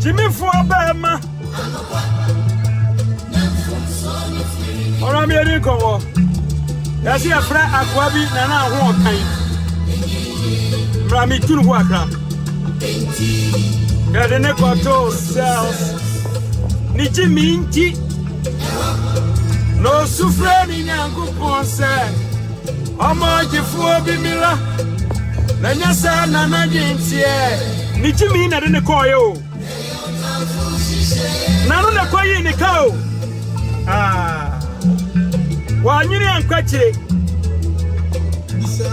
Gyimifoɔ bɛɛma ɔrɔ mmiɛni nkɔwɔ yɛsi ɛfrɛ akoa bi nana aho ɔkan mmerami tunu ho akra yɛde ne kɔtoo cells ne gyimi nti. Na ɔsu frɛɛ ne Nyankopɔn sɛ ɔmma ɔgyefoɔ bi mmra, na nyɛ saa na n'adwene teɛ. Ne gyimii na ɛde no kɔeɛ o. N'ano na ɛkɔyii ne ka o. Wannwene ankɔ akyire,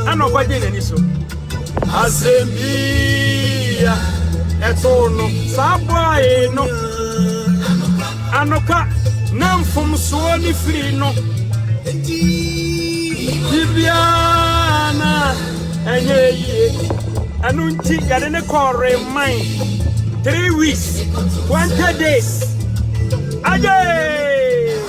ɛna ɔkɔgyee n'ani so. Asɛm bi a ɛtoo no. Saa bɔe no, anokwa, na mfomsoɔ no firi no. Biribiara na ɛnyɛ yie. Ɛno nti yɛde ne kɔɔ reman three weeks twenty days. Ayee!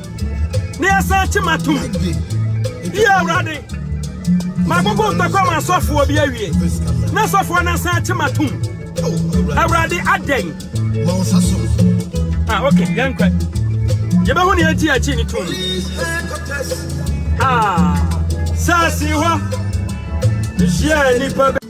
na yɛsan kye m'atom. Yi Awurade, magogo ntɔkwa ma asɔfoɔ bi awie, na asɔfoɔ no asan kye m'atom. Awurade adɛn? Ah, okay, yɛnkɔ. Yɛbɛhu nea ɛti akyi ne tom. Ah, saase hɔ. Nhyia nipa bɛ.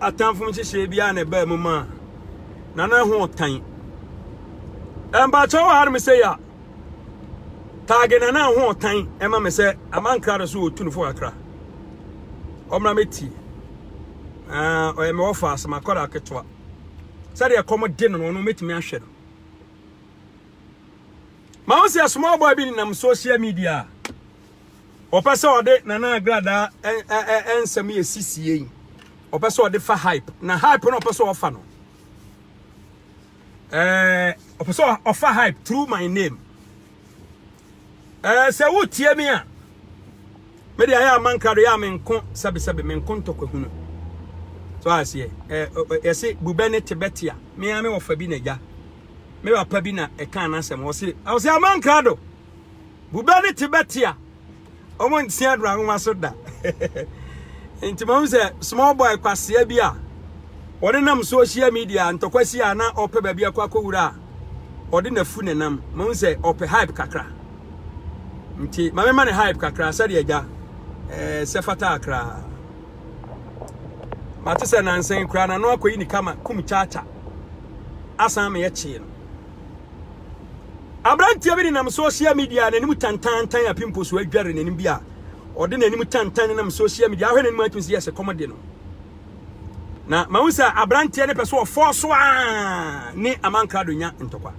Atamfo nhyehyɛe bi a na ɛbaa mu ma na na ho tan. Ɛmpakyɛw wɔ hanom sɛ ya. Taage na na ho tan ɛma me sɛ amankra do so otu no fo kakra. Ɔmra me ti. Ah, ɔyɛ me wɔfa asɛm akɔda ketewa. Sɛdeɛ kɔm de no no ɔno metumi ahwɛ no. Ma wo sɛ small boy bi nenam social media. Ɔpɛ sɛ ɔde Nana Agradaa nsɛm yɛ sisie yi. Ɔpɛ sɛ ɔde fa hype. Na hype no ɔpɛ sɛ ɔfa no. Ɛɛ ɔpɛ sɛ ɔfa hype through my name. Ɛɛ sɛ wotie me a me de ayɛ amankra do yɛ a menko sɛbesɛbe menko ntɔkwahunu. So aseɛ ɛɛ yɛse bubɛ ne tebɛte a me a me wɔfa bi na gya. Me papa bi na ɛka anasɛm ɔse ɔse amankra do. Bobe ne te bɛte a wɔn nte adora nwoma so da nti mahu sɛ small boy kwasea bi a wɔde nam social media ntɔkwasi a na ɔpɛ baabi akɔ akɔwura a ɔde n'afu ne nam mahu sɛ ɔpɛ hype kakra nti ma mema ne hype kakra sɛdeɛ agya eh, sɛ fata akra mate sɛ nansen koraa na no akɔyi ne kama kum kyaakya asan meyɛ kyee no Aberanteɛ bi nenam social media a n'anim tantantan a pimples adware n'anim bi a ɔde n'anim tantan nenam social media ahwɛ n'anim atumi sɛ yɛsɛ kɔmɔde no na ma wo sɛ aberanteɛ ne pɛ so ɔfɔ so a ne amankrado nya ntɔkwa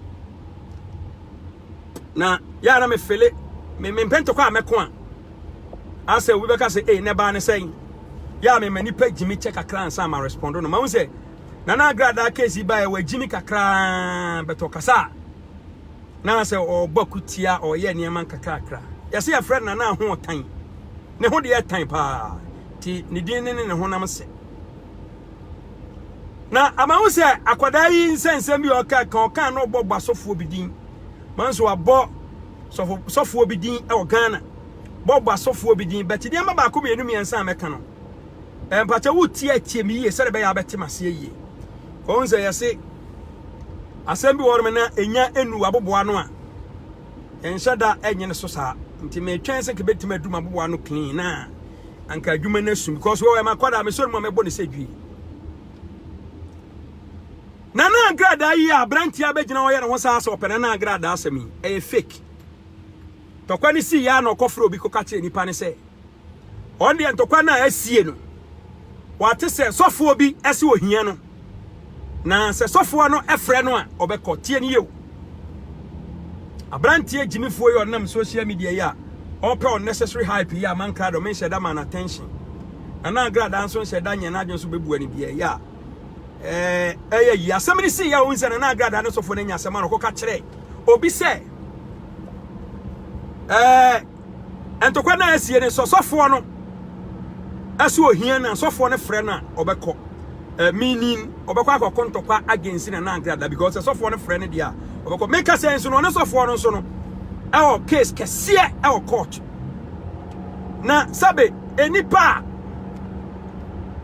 na yɛ na mefele mempɛ ntɔkwa a mɛko a asɛ obi bɛka sɛ ei ne baa ne sɛn yɛ a mema nipa gyimi kyɛ kakra ansa ma respondo no ma wo sɛ na na agradaa case yi baeɛ wagyimi kakraa bɛtɔ kasa a na sɛ ɔrebɔ akutia ɔreyɛ nneɛma nkakrakra yɛsɛ yɛfrɛ no nana ho ɔtan ne ho deɛ tan paa ti ne din ne ne ne honam sɛ na ama ho sɛ akwadaa yi nsɛnsɛm bi ɔka ka ɔka na ɔbɔ bɔ asɔfoɔ bi din ma nso abɔ sɔfoɔ bi din wɔ ghana bɔ bɔ asɔfoɔ bi din bɛte deɛ ma baako mmienu mmiɛnsa a mɛka no Mpakyɛ wo tie atie me yie sɛdeɛ bɛyɛ abɛte maseɛ yie. Kɔhu sɛ yɛse asɛm bi wɔnom na ɛnya ɛnu aboboa no a yɛnhyɛ da ɛnyɛ no so saa nti metwɛn sɛ kɛbɛtumi adum aboboa no clean na anka adwuma no asum because wɔwɔ ɛma kɔda mesɔre mu a mɛbɔ ne sɛ dwi nana agradaa yi a aberanteɛ abɛgyina ɔyɛ ne ho saa sɛ ɔpɛ nana agradaa asɛm yi ɛyɛ fake tɔkwa ne sii yɛ a na ɔkɔfrɛ obi kɔka kyerɛ nipa ne sɛ Wɔn deɛ ntɔkwa no a asie no, wɔate sɛ sɔfoɔ bi se ohia no, na sɛ sɔfoɔ no frɛ no a, ɔbɛkɔ. Tie no yeo. Aberanteɛ gyimifoɔ yi ɔnam social media yi a ɔpɛ unnecessary hype yi a mankra dɔ menhyɛ da ma no attention. Na na agrada nso nhyɛ da nyɛ n'adwene so bɛbua no biara yɛ a ɛyɛ yi. Asɛm no sii yɛ a ɔhu sɛ na na agrada ne sɔfoɔ no anya asɛm a na ɔkɔka kyerɛ obi sɛ ɛɛ Ntɔkwa no a asie no, sɛ ɔsɔfoɔ no ɛsɛ ohia no a, sɔfoɔ no frɛ no a, ɔbɛkɔ. Uh, meaning, ɔbɛkɔ akɔko ntɔkwa against na nangrada because sɛ sɔfoɔ no frɛ no deɛ a, ɔbɛkɔ. Meka sɛ nso no, ɔne sɔfoɔ no nso no, ɛwɔ case kɛseɛ ɛwɔ court. Na sɛbe, nnipa a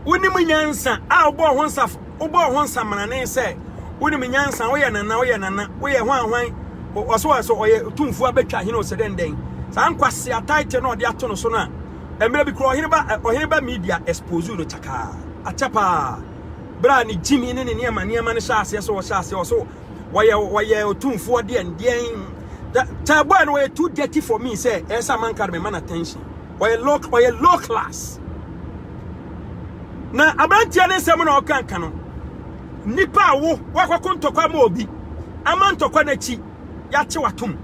wonim nyansa a wobɔɔ ho nsafo Wobɔɔ ho nsamanane sɛ wonim nyansa, woyɛ nana, woyɛ nana, woyɛ hwan hwan, ɔsɛ wɔ sɛ ɔyɛ tumfuo abɛtwa hene ɔsɛ dɛn dɛn. Saa nkwasea title no ɔde ato no so no a, mmerɛ bi kura ɔhene ba ɔhene ba media expose no kyakaa, akyɛ paa. Berɛ a ne gyimi ne ne nneɛma nneɛma no hyɛ aseɛ sɛ ɔhyɛ aseɛ ɔsɛ wɔyɛ wɔyɛ ɔtumfuo deɛn deɛn. Tɛɛbɔɛ no wɔyɛ too dirty for me sɛ ɛyɛ sɛ amanka de mema no attention. ɔyɛ low ɔyɛ low class na aberanteɛ ne nsɛm na ɔka nka no nnipa a wo wakɔko ntɔkwa ma obi ama ntɔkwa n'akyi yɛakye watom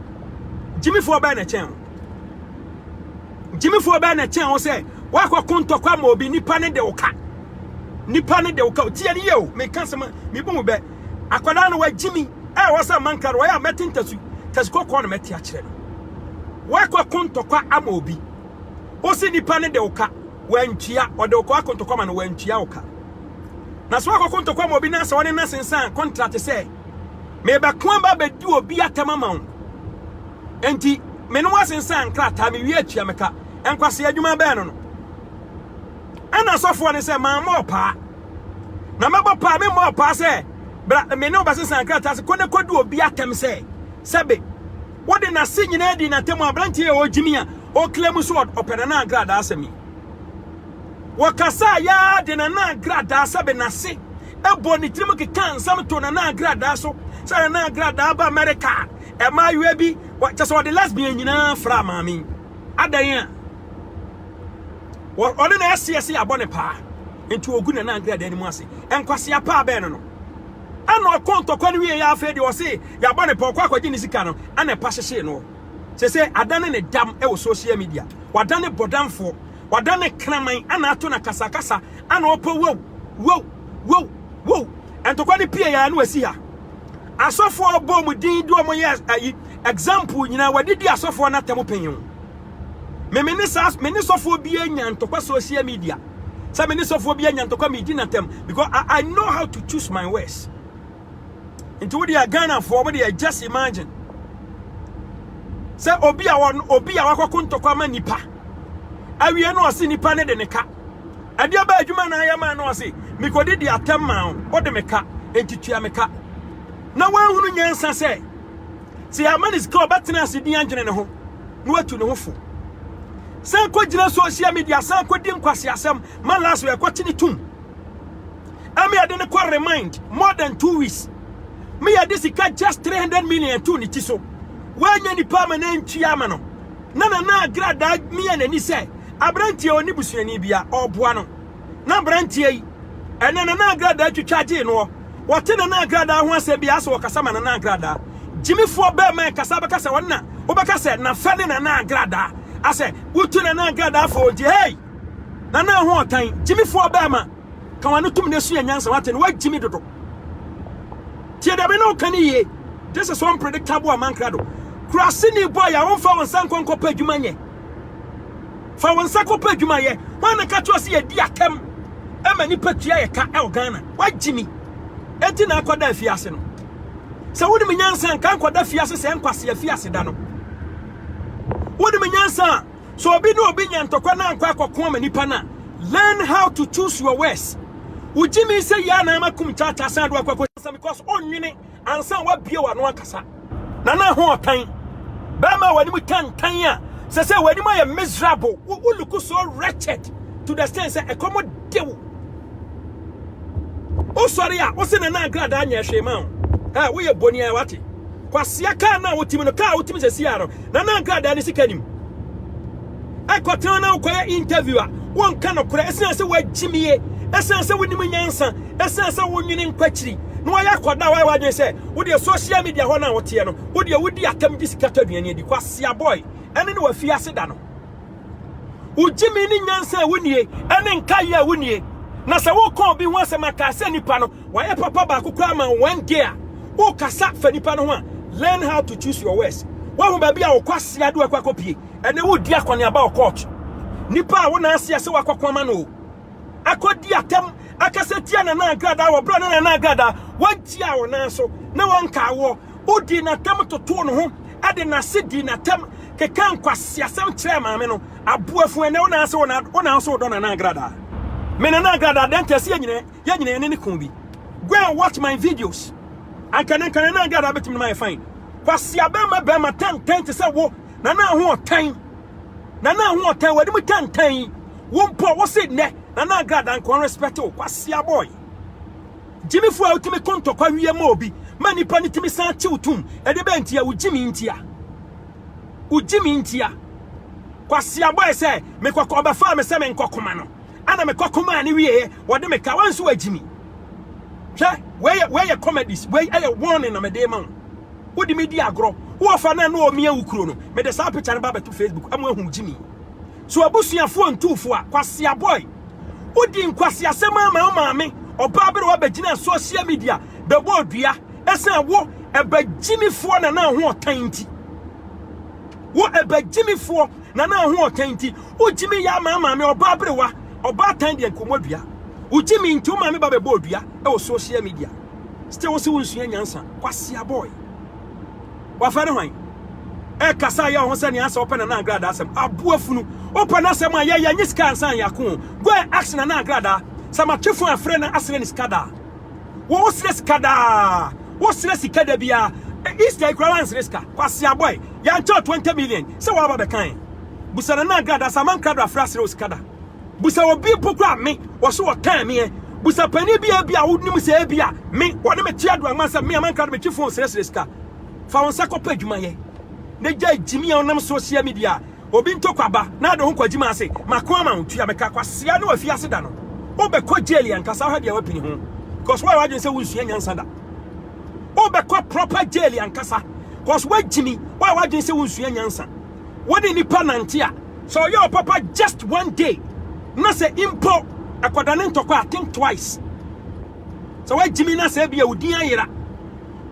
gyimifoɔ bɛɛ na ɛkyɛn ho gyimifoɔ bɛɛ na ɛkyɛn ho sɛ wakɔko ntɔkwa ma obi nnipa ne de wo ka nnipa ne de wo ka tie ne yie o meka sɛm mebu mu bɛ Akwadaa no wagye mi. Ɛ wɔ sɛ manka no, wɔyɛ a mɛte ntasu. Tasu kɔkɔɔ na mɛte akyerɛ no. Woakɔko ntɔkwa ama obi. Wose nipa no de wo ka, wantua. Ɔde wo kɔako ntɔkwa ma no, wantua wo ka. Na sɛ woakɔko ntɔkwa ma obi na sɛ ɔne no asensan kɔntrate sɛ, mebɛko aba abɛdi obi atɛm ama wo, enti me ne wo asensan nkrataa, mewie atua me ka. Nkwasea adwuma bɛn no no? Ɛna asɔfoɔ no sɛ, mammɔ ɔpaa. Na mɛbɔ paa, memmɔɔ paa sɛ, Bra, me ne wo bɛsesa nkrataa ase, kɔ na kɔdi obi atɛm sɛ, sɛbe wode n'ase nyinaa di n'atɛm a, aberanteɛ a ɔgyimi a ɔreklɛm sɛ ɔpɛ Nana Agradaa asɛm yi. Wɔkasaa yaa de Nana Agradaa sɛbe n'ase bɔɔ ne tirim kekaa nsɛm too Nana Agradaa so sɛ Nana Agradaa aba Amerika a, mmaayewa bi, kyɛ sɛ ɔde lesbian nyinaa fraa maame yi. Adɛn a? ɔne no aseɛ se abɔ ne paa nti ɔgu nana nkradaa no mu ase nkwasea paa bɛɛ no no ɛna ɔkɔ ntɔkwa no wie yɛ afei deɛ ɔse yɛabɔ ne paa ɔkɔ akɔgye ne sika no ɛna ɛpa hyehyee no sɛ sɛ adane ne dam ɛwɔ social media wadane bɔdamfoɔ wadane kraman ɛna ato na kasakasa ɛna ɔpɔ wow wow wow wow ntɔkwa no pie yɛ ɛna wasi ha asɔfoɔ bɔ mu din de ɔmo yɛ ayi example nyinaa wadidi asɔfoɔ no atɛm panyin me me ne saa me ne sɔfoɔ bi anya ntɔkwa social media sɛ me ne sɔfoɔ bi anya ntɔkwa medi n'atɛm because I, I know how to choose my words nti wo deɛ ghanafoɔ mo deɛ just imagine sɛ obi a wɔn obi a wakɔko ntɔkwa ma nipa awie no ɔse nipa ne de ne ka ɛdeɛ bɛ adwuma na ayɛ maa no ɔse mekɔdi di atɛm maa wo wode me ka nti tua me ka na wɔahunu nyansa sɛ Sɛ yɛama no sika a, ɔbɛtena ase din adwene ne ho na watu ne ho fo. San kɔgyina social media, san kɔdi nkwaseasɛm ma last wɔ ɛkɔte ne tum. Ɛma yɛde no kɔ remind more than two weeks. Me yɛde sika just 300 million to ne ti so. Woanya nipa ama na ntua ama no. Na nana agradaa mia n'ani sɛ aberanteɛ ɔne busuani bia ɔboa no. na aberanteɛ yi, ɛnɛ Nana Agradaa twitwa gyee noɔ. Wɔte Nana Agradaa ho asɛ biara sɛ wɔkasa ma Nana Agradaa. Gyimifoɔ bɛɛma ɛkasa bɛka sɛ wɔn na, wobɛka sɛ nafɛ ne Nana Agradaa. Asɛ, wotu Nana Agradaa fo ogye, hei! Nana ho ɔtan, gyimifoɔ bɛɛma, ka w'ano tom na sua nyansa, wate no, woagyimi dodo. Tie deɛ me ne woka no yie, this is unpredictable amankrado. Kuraseni boy a womfa wo nsa nkɔ nkɔpɛ adwuma nyɛ. Fa wo nsa kɔpɛ adwuma yɛ. Hwan na ka kyerɛ wo sɛ yɛdi atɛm ma nnipa tua yɛ ka wɔ Ghana? Woagye mi. Enti na akɔda afiase no. Sɛ wonim nyansa nka nkɔda afiase sɛ nkwasi afiase da no. Wonim nyansa a, sɛ obi ne obi nya ntɔkwa na ankɔ akɔko ama nipa no a, learn how to choose your words. Wogye mi sɛ yɛ a na ama kum kyaakyaa san de wakɔ akɔ sɛ because ɔnwene Ansa wabue w'ano akasa. Nana ho ɔtan. Bɛrima a w'anim tantan a sɛ sɛ w'anim ayɛ miserable. Wo wo look so wretched to the extent sɛ ɛkɔm de wo. Wosɔre a wose Nana Agradaa nyɛ hwee ma wo. Ɛ woyɛ boni a wate. Kwasea kaa no a wotim no kaa wotim sɛ siaa no. Nana Agradaa ne sika nim. Kɔ town na wokɔyɛ interview a wonka nokorɛ ɛsiane sɛ woagyimie, ɛsiane sɛ wonim nyansa, ɛsiane sɛ wonwene nkɔ akyiri na woayɛ akwadaa a woayɛ w'adwene sɛ wodeɛ social media hɔ no a woteɛ no wodeɛ wodi atɛm gye sika tɔ aduane adi. Kwasea boy, ɛne ne w'afiase da no. Wogyimie ne nyansa a wonnie ɛne nkaeɛ a wonnie. Na sɛ woka obi ho asɛm a kaa sɛ nipa no wayɛ papa baako koraa ma wo one day a wokasa fa nipa no ho a learn how to choose your words. Woahu baabi a wo kwasea de wo akɔ akɔpie. Ɛnɛ wodi akɔneaba wɔ court. Nipa a wo nan ase ɛsɛ wakɔko ama no o. Akɔdi atɛm akasa tia Nana Agrada wɔ berɛ a na Nana Agrada wantia wo nan so na wanka awoɔ. Wodii n'atɛm totoo ne ho de n'ase dii n'atɛm kekaa nkwaseasɛm kyerɛɛ maame no. Aboafu ɛnɛ wo nan ase wo nan so wodɔ Nana Agrada. Me Nana Agrada adɛn nti ɛsɛ yɛnyina yɛne ne ko bi. Go and watch my videos. Anka ɛnɛ nka Nana Agrada bɛtumi de ma yɛ fine. Kwaseabɛrima bɛrima tɛntɛn te sɛ wo. Nana Ahoɔtan, Nana Ahoɔtan, w'adi mu tantan yi, wo mpo a wose nnɛ Nana Agrada nko ara respect wo, Kwasea boy. Gyimifo a wotumi ko ntɔkwa wie ma obi, ma nipa no tumi san tew tom, ɛde bɛn ntia, wo gyimi ntia. Wo gyimi ntia. Kwasea boy sɛ, mekɔkɔ ɔbɛfaa me sɛ menkɔkoma no, ana mekɔkomaa ne wieɛ, wɔde me ka, wanso wagyimi. Hwɛ, wei yɛ comedies, wei ɛyɛ warning na mede ma wo. Wode me di agorɔ. Wo ɔfa no a na ɔmia wo kuro no, mede saa picture no ba abɛto Facebook ama ahu gyimi. So abusuafoɔ ntuu fo a, kwasia boy. Wodi nkwaseasɛm ara ma wo maame ɔbaa berewa bɛgyinaa social media bɛbɔɔ dua ɛsiane wo ɛbagyimifoɔ nana ahoɔtan nti. Wo ɛbagyimifoɔ nana ahoɔtan nti, wo gyimi yɛ ama maame ɔbaa berewa ɔbaatan deɛ nkɔmmɔdua. Wo gyimi nti wo maame ba bɛbɔɔ dua ɛwɔ social media. Still wo se wo nsua nyansa. Kwasia boy. Wafɛ ne hwan? Ɛkasa yɛ ho sɛ nea asɛ wopɛ Nana Agrada asɛm. Aboa funu. Wopɛ no asɛm a yɛyɛ nye sika ansa yɛ ako. Go and ask Nana Agrada. Sɛ matwe fo afrɛ na asrɛ ne sika da. Wo wo srɛ sika daa. Wo srɛ sika da bia. Easter ikura wan srɛ sika. Kwasia boy. Yɛnkyɛw 20 million. Sɛ waba bɛkan. Busa Nana Agrada sɛ amankrado afrɛ asrɛ wo sika da. Busa obi mpo koraa a me, wɔse wɔtan me ɛ. Busa panin bi a ebia wonim sɛ ebia me, wɔne me te adoankɔ ansa me a mankra de metwe fon srɛsrɛ sika. Fa wo nsa kɔpɛ adwuma yɛ na gyae gyimi a wonam social media obi ntɔkwa aba na ade ho kwagyimi ase. Mako ama wo, tua me ka. Kwasea ne w'afiase da no, wobɛkɔ jail ankasa hwɛ deɛ wapini ho cause woayɛ w'adwene sɛ wonsua nyansa da. Wobɛkɔ proper jail ankasa cause woagyimi, woayɛ w'adwene sɛ wonsua nyansa. wo ne nipa nante a, sɛ ɔyɛ wo papa just one day, na sɛ mpo akɔda ne ntɔkwa a, think twice. Sɛ woagyimi na sɛ ebia wo din ayera,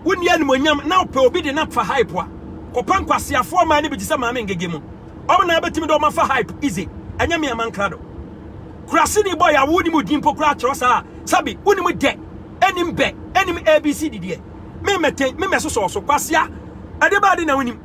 wonni animuonyam na wopɛ obi de no afa hype a, kɔpɛ nkwaseafoɔ mmaa no bi te sɛ Maame Ngege mu. Wɔn na bɛtumi de wɔn afa hype easy, ɛnyɛ me Ama Nkrado. Kuraseni boy a wonim wo din mpo koraa kyerɛ saa a, sɛbe wonim dɛ, ɛnim bɛ, ɛnim ABC didiɛ. Me mmɛtɛn, me mmɛsosɔ wo so. Kwasea, ɛdeɛbɛn ade na wonim?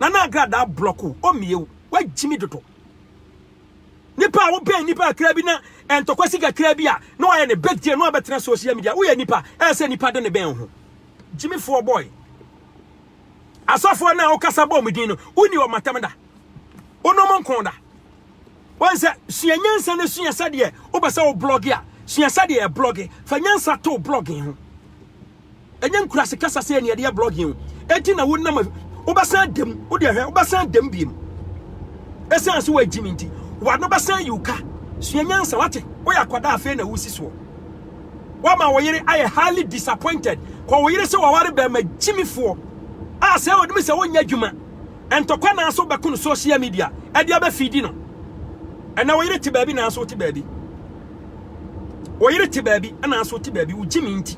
Nana agradaa block o, ɔmmie o, wagyimi dodo. Nipa a wobɛn nipa kakra bi na ɛntɔkwa si kakra bi a na wayɛ ne big deal na wabɛtena social media, woyɛ nipa, ɛyɛ sɛ nipa de ne bɛn wo ho. Gyimifoɔ boy. Asɔfoɔ no a wokasa bɔɔ mu din no, wonni wɔn atam da. Wone wɔn nko da. Wɔn sɛ sua nyansa na sua sɛdeɛ wopɛ sɛ wo blɔge a sua sɛdeɛ yɛ blɔge fa nyansa to blɔge ho ɛnyɛ nkurase kasa sɛ ɛne ɛde yɛ blɔge ho ɛti na wonam wobɛsan dam wode ɛhwɛ wobɛsan dam biem ɛsan so wɔagyi me nti wano bɛsan yi ka sua nyansa wate woyɛ akwadaa afei na wosi soɔ wama wo yere ayɛ highly disappointed kɔ wo yere sɛ wɔware bɛrima gyimifoɔ a sɛ wɔde me sɛ wonyɛ adwuma Ntɔkwa nanso wobɛko no social media ɛde abɛ feedi no. Ɛnɛ wo yere te baabi nanso wote baabi. Wo yere te baabi nanso wote baabi wo gyimi nti.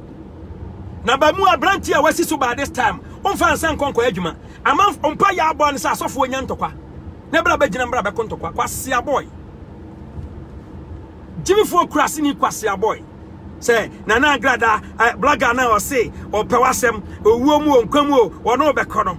Na ba mu aberanteɛ a wasi so by this time womfa nsa nkɔ nkɔ adwuma. Ama mpa yɛ abɔ ne sɛ asɔfoɔ nya ntɔkwa. Ne bra bɛgyina mbra bɛko ntɔkwa kwase abɔe. Gyimifoɔ kurase ni kwase abɔe. Sɛ nana agrada blogger na ɔse ɔpɛ wasɛm owuo mu o nkwa mu o wɔne wobɛkɔ no.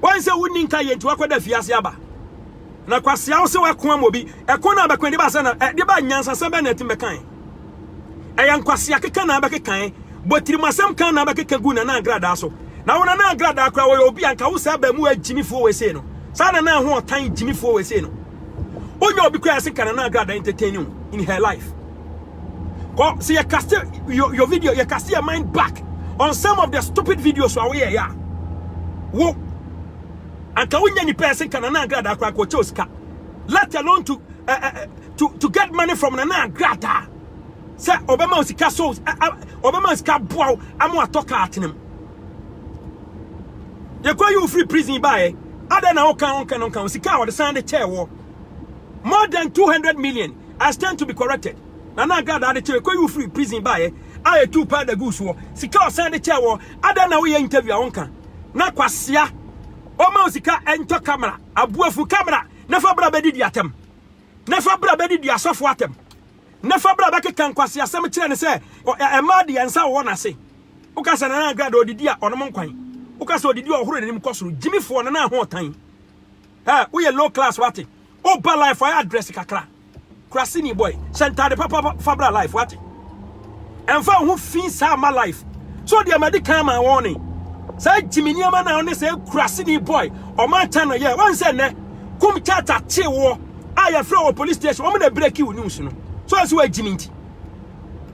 Wan sɛ wonni nka yɛ nti wakɔda afiase aba. Na kwasea wo se wako ama obi. Ɛko na abɛko ɛde ba sɛ na ɛde ba nyansasɛm bɛ na ɛtim bɛkae. Ɛyɛ nkwasea keka na abɛkekae. Bɔtirim asɛm ka na abɛkeka gu nana agradaa so. Na wo nana agradaa koraa wɔyɛ obi a nka wo saa abɛmuwaa gyimifoɔ wei sei no. Saa nana ho ɔtan gyimifoɔ wei sei no. Wonya obi koraa a ɛse nka nana agradaa entertain wo in her life. Kɔ sɛ yɛ cast your, your video, yɛ cast your mind back on some of the stupid videos a woyɛ ya. Wo anka wonya nipa ɛsen ka nana agrada akora kɔ kyɛw sika. Let alone to uh, uh, to to get money from nana agrada. Sɛ obema sika so obema sika boa amu atɔ ka atenem. Yɛ kɔ you free prison ba ɛ. Ada na woka wonka no nka sika a wɔde san de kyɛɛ wɔ more than 200 million I stand to be corrected. Nana Agradaa de kyerɛ kɔyi wo firi prison baeɛ a ɛtuu paa da guu soɔ. Sika ɔsan de kyɛɛ wɔ adɛn na woyɛ interview a wonka na kwasea ɔma wo sika ɛntɔ camera aboafu camera na fa bra bɛdidi atɛm na fa bra bɛdidi asɔfo atɛm na fa bra bɛkeka nkwaseasɛm kyerɛ ne sɛ ɛmaa deɛ nsa wɔwɔ n'ase woka sɛ Nana Agradaa ɔdidi a ɔnom nkwan woka sɛ ɔdidi a ɔhoro n'anim kɔ soro gyimifoɔ no na ahoɔtan ɛ woyɛ low class wate O ba life ayɛ address kakra. Kurasini boy, hyɛ ntade papa fa bra life wate. Ɛmfa wo ho fi saa ma life. So deɛ madi kan ma wɔn ne saa gyimi nneɛma na ɔne sɛ kurasini boy ɔman tan no yɛ wɔn sɛ nnɛ kum tata te woɔ a yɛfrɛ wɔ police station wɔn na breki wo news no so ɛsɛ wɔagyimi nti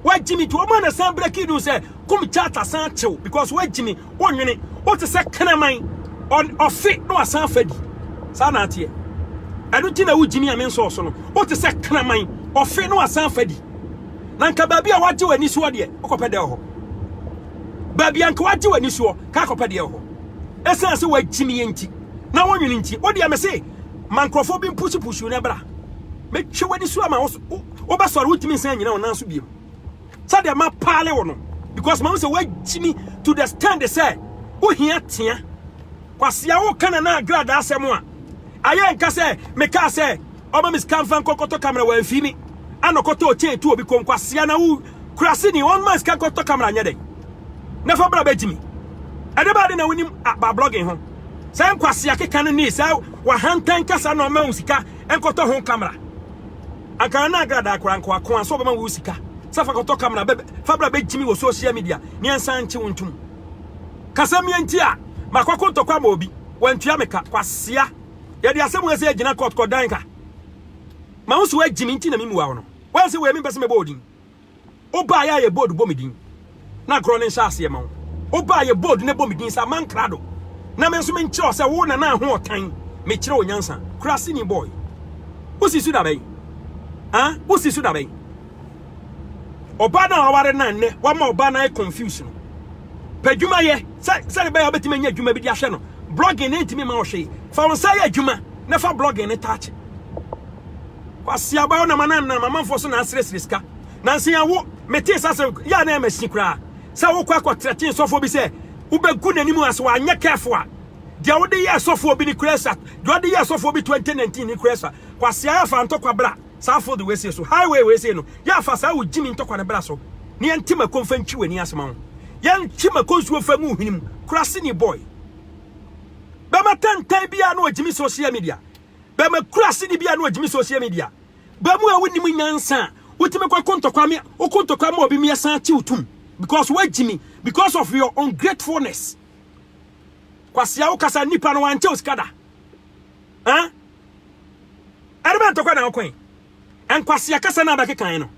wɔagyimi nti wɔn na san breki news sɛ kum tata san tew because wɔagyimi wonwene wote sɛ kraman ɔfe na wasan afa di saa na ateɛ ɛno nti na wogyimi a me nsɔɔ so no wote sɛ kraman ɔfe na wasan afa di na nka baabi a wagye w'ani soɔ deɛ wokɔpɛ dɛ hɔ baabi a nka wagye w'ani soɔ ka akɔpɛ deɛ hɔ ɛsiane sɛ wagyimi yɛ nti na wonwene nti wodeɛ me se ma nkurɔfoɔ bi mpusupusu no ɛbra mɛtwe w'ani so ama wobɛsɔre wotumi nsan nyina wo nan so biemu sɛdeɛ mapaale wo no because mahu sɛ woagyimi to the stand sɛ wohia tea kwasea woka na na agradaa asɛm a ayɛ nka sɛ mekaa sɛ ɔma me sika mfa nkɔkɔtɔ kamera wamfi mi ana ɔkɔtɔ ɔkyɛn tu obi kɔm kwasea na wo kura se ni ɔma sika nkɔtɔ kamera nyɛ dɛn na fa bra bɛgyimi ɛde baade na wonim ba blogging ho sɛ nkwasea keka no ni sɛ wahantan kasa na ɔma wo sika nkɔtɔ ho camera akan na agrada kora nkoa ko aso bɛma wo sika sɛ fa kɔtɔ camera bɛ fa bra bɛgyimi wɔ social media ne nsan nkye wo ntom kasɛm yɛ nti a makwako ntɔkwa ma obi wantua me ka kwasea yɛde asɛm wɔ sɛ agyina court kɔdan ka ma wo so agyimi nti na memmua wo no wansi wɔ ɛmi mpɛ sɛ mɛbɔ odin Wo baa yɛ a yɛ bold bɔ me din na agorɔ no nhyɛ aseɛ ma wo. Wo baa yɛ bold na bɔ me din saa man krado na me nso menkyerɛ wo sɛ wo nana Ahoɔtan mekyerɛ wo nyansa. Kuraseni boy. Wo si so da bɛn? Ah, wo si so da bɛn? Ɔbaa no a waware no a nnɛ wama ɔbaa no ayɛ confuse no, pɛ adwuma yɛ sɛ sɛdeɛ ɛbɛyɛ a wobɛtumi anya adwuma bi de ahwɛ no. Blogging no ntumi mma wo hwee. Fa wo nsa yɛ adwuma na fa blogging no taakye. Kwasi aba wo na ma na ma manfo so na asresre sika. Nansen ya wo mete sa se ya na ma si kra. Sɛ wo kwa kɔ tretin sɔfo bi sɛ wo begu n'anim ase wa nyɛ careful a deɛ wo de yɛ sɔfo bi ni kra sa deɛ ɔde yɛ sɔfo bi 2019 ni kra sa. Kwasi ya fa ntɔkwa bra saa food wei sei so. Highway wei sei no ya fa saa wo gyimi ntɔkwa no bra so na yɛ nte mako mfa ntwi w'ani ase ma wo. Yɛ ntwe mako nsuo mfa ngu wo hwene mu. Kwasi ni boy. Bɛma tantan biara na ogyimi social media. Bɛma kura asedi bi a na ɔgyimi social media. Ba mu a wonim nyansa a wotumi kɔ ko ntɔkwa me woko ntɔkwa ma obi me ɛsan akye wo tum because woagyimi because of your ungratefulness. Kwasia wo kasa nipa no wankyɛ osika da. Eh? Ɛde bɛ ntɔkwa na wokɔn. Ɛnkwasia kasa na bɛkekan no.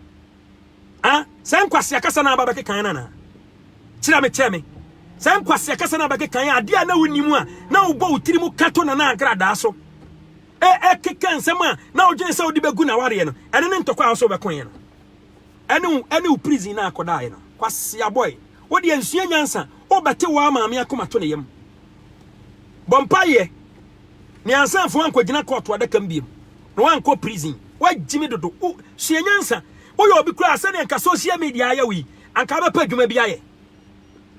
Ah, saa nkwasea kasa na aba bɛkeka yɛn anaa? Kyerɛ me, kyerɛ me. Saa nkwasea kasa na aba bɛkeka yɛn adeɛ a na wonim a na wobɔ wo tiri mu ka to Nana Agradaa so. E, ɛkeka nsɛm a na wodwene sɛ wode bɛgu n'awareɛ no, ɛno ne ntɔkwa a wo sɛ wobɛko yɛn no. Ɛne wo, ɛne wo prison na akɔdaeɛ no. Kwasea boy, wo deɛ nsua nyansa, wobɛte wo ara maame akoma to ne yam. Bɔ mpaeɛ, Me ansanfo wankogyina kɔɔto adaka mu biom na wankɔ prison wagyimi dodo wo sua nyansa woyɛ obi koraa sɛdeɛ nka social media ayɛ wo yi anka wobɛpɛ adwuma bi ayɛ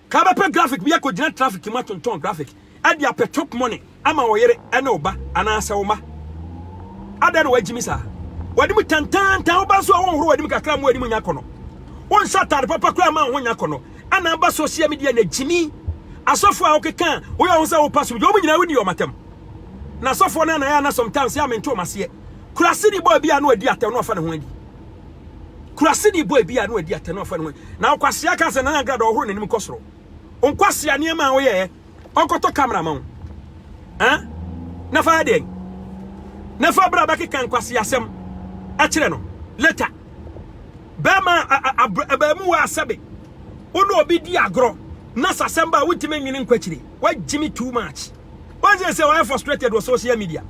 ka wobɛpɛ graphic bi akɔgyina traffic mu atontɔn graphic ɛde apɛ chop money ama wo yere ɛne wo ba anaasɛ wo ma adɛn na wagyimi saa wadi mu tantantan wo ba nso a wonhoro wadi mu kakra mu wadi mu nya kɔnɔ wonhyɛ atade papa koraa ma wo ho nya kɔnɔ Ana aba social media na gyimi asɔfo a wokeka woyɛ ho sɛ wo pastor bi wɔn nyinaa woni wɔn atam na asɔfo no anayɛ ana sometimes yɛ amento wɔn aseɛ kurase de bɔ ebi a no adi atɛm no afa ne ho adi kurase de bɔ ebi a no adi atɛm no afa ne ho na wokwasea ka sɛ nana agrada ɔhoro n'anim kɔ soro nkwasea nneɛma a woyɛ ɔkɔtɔ camera ma wo ɛn na fa yɛ deɛn na fa bra bɛkeka nkwasi asɛm ɛkyerɛ no later bɛrima abaamu wɔ asɛbe wo ne obi di agorɔ na sasɛm ba wontumi nwene nkwakyire wagyimi too much wɔn sɛ sɛ wɔyɛ frustrated wɔ social media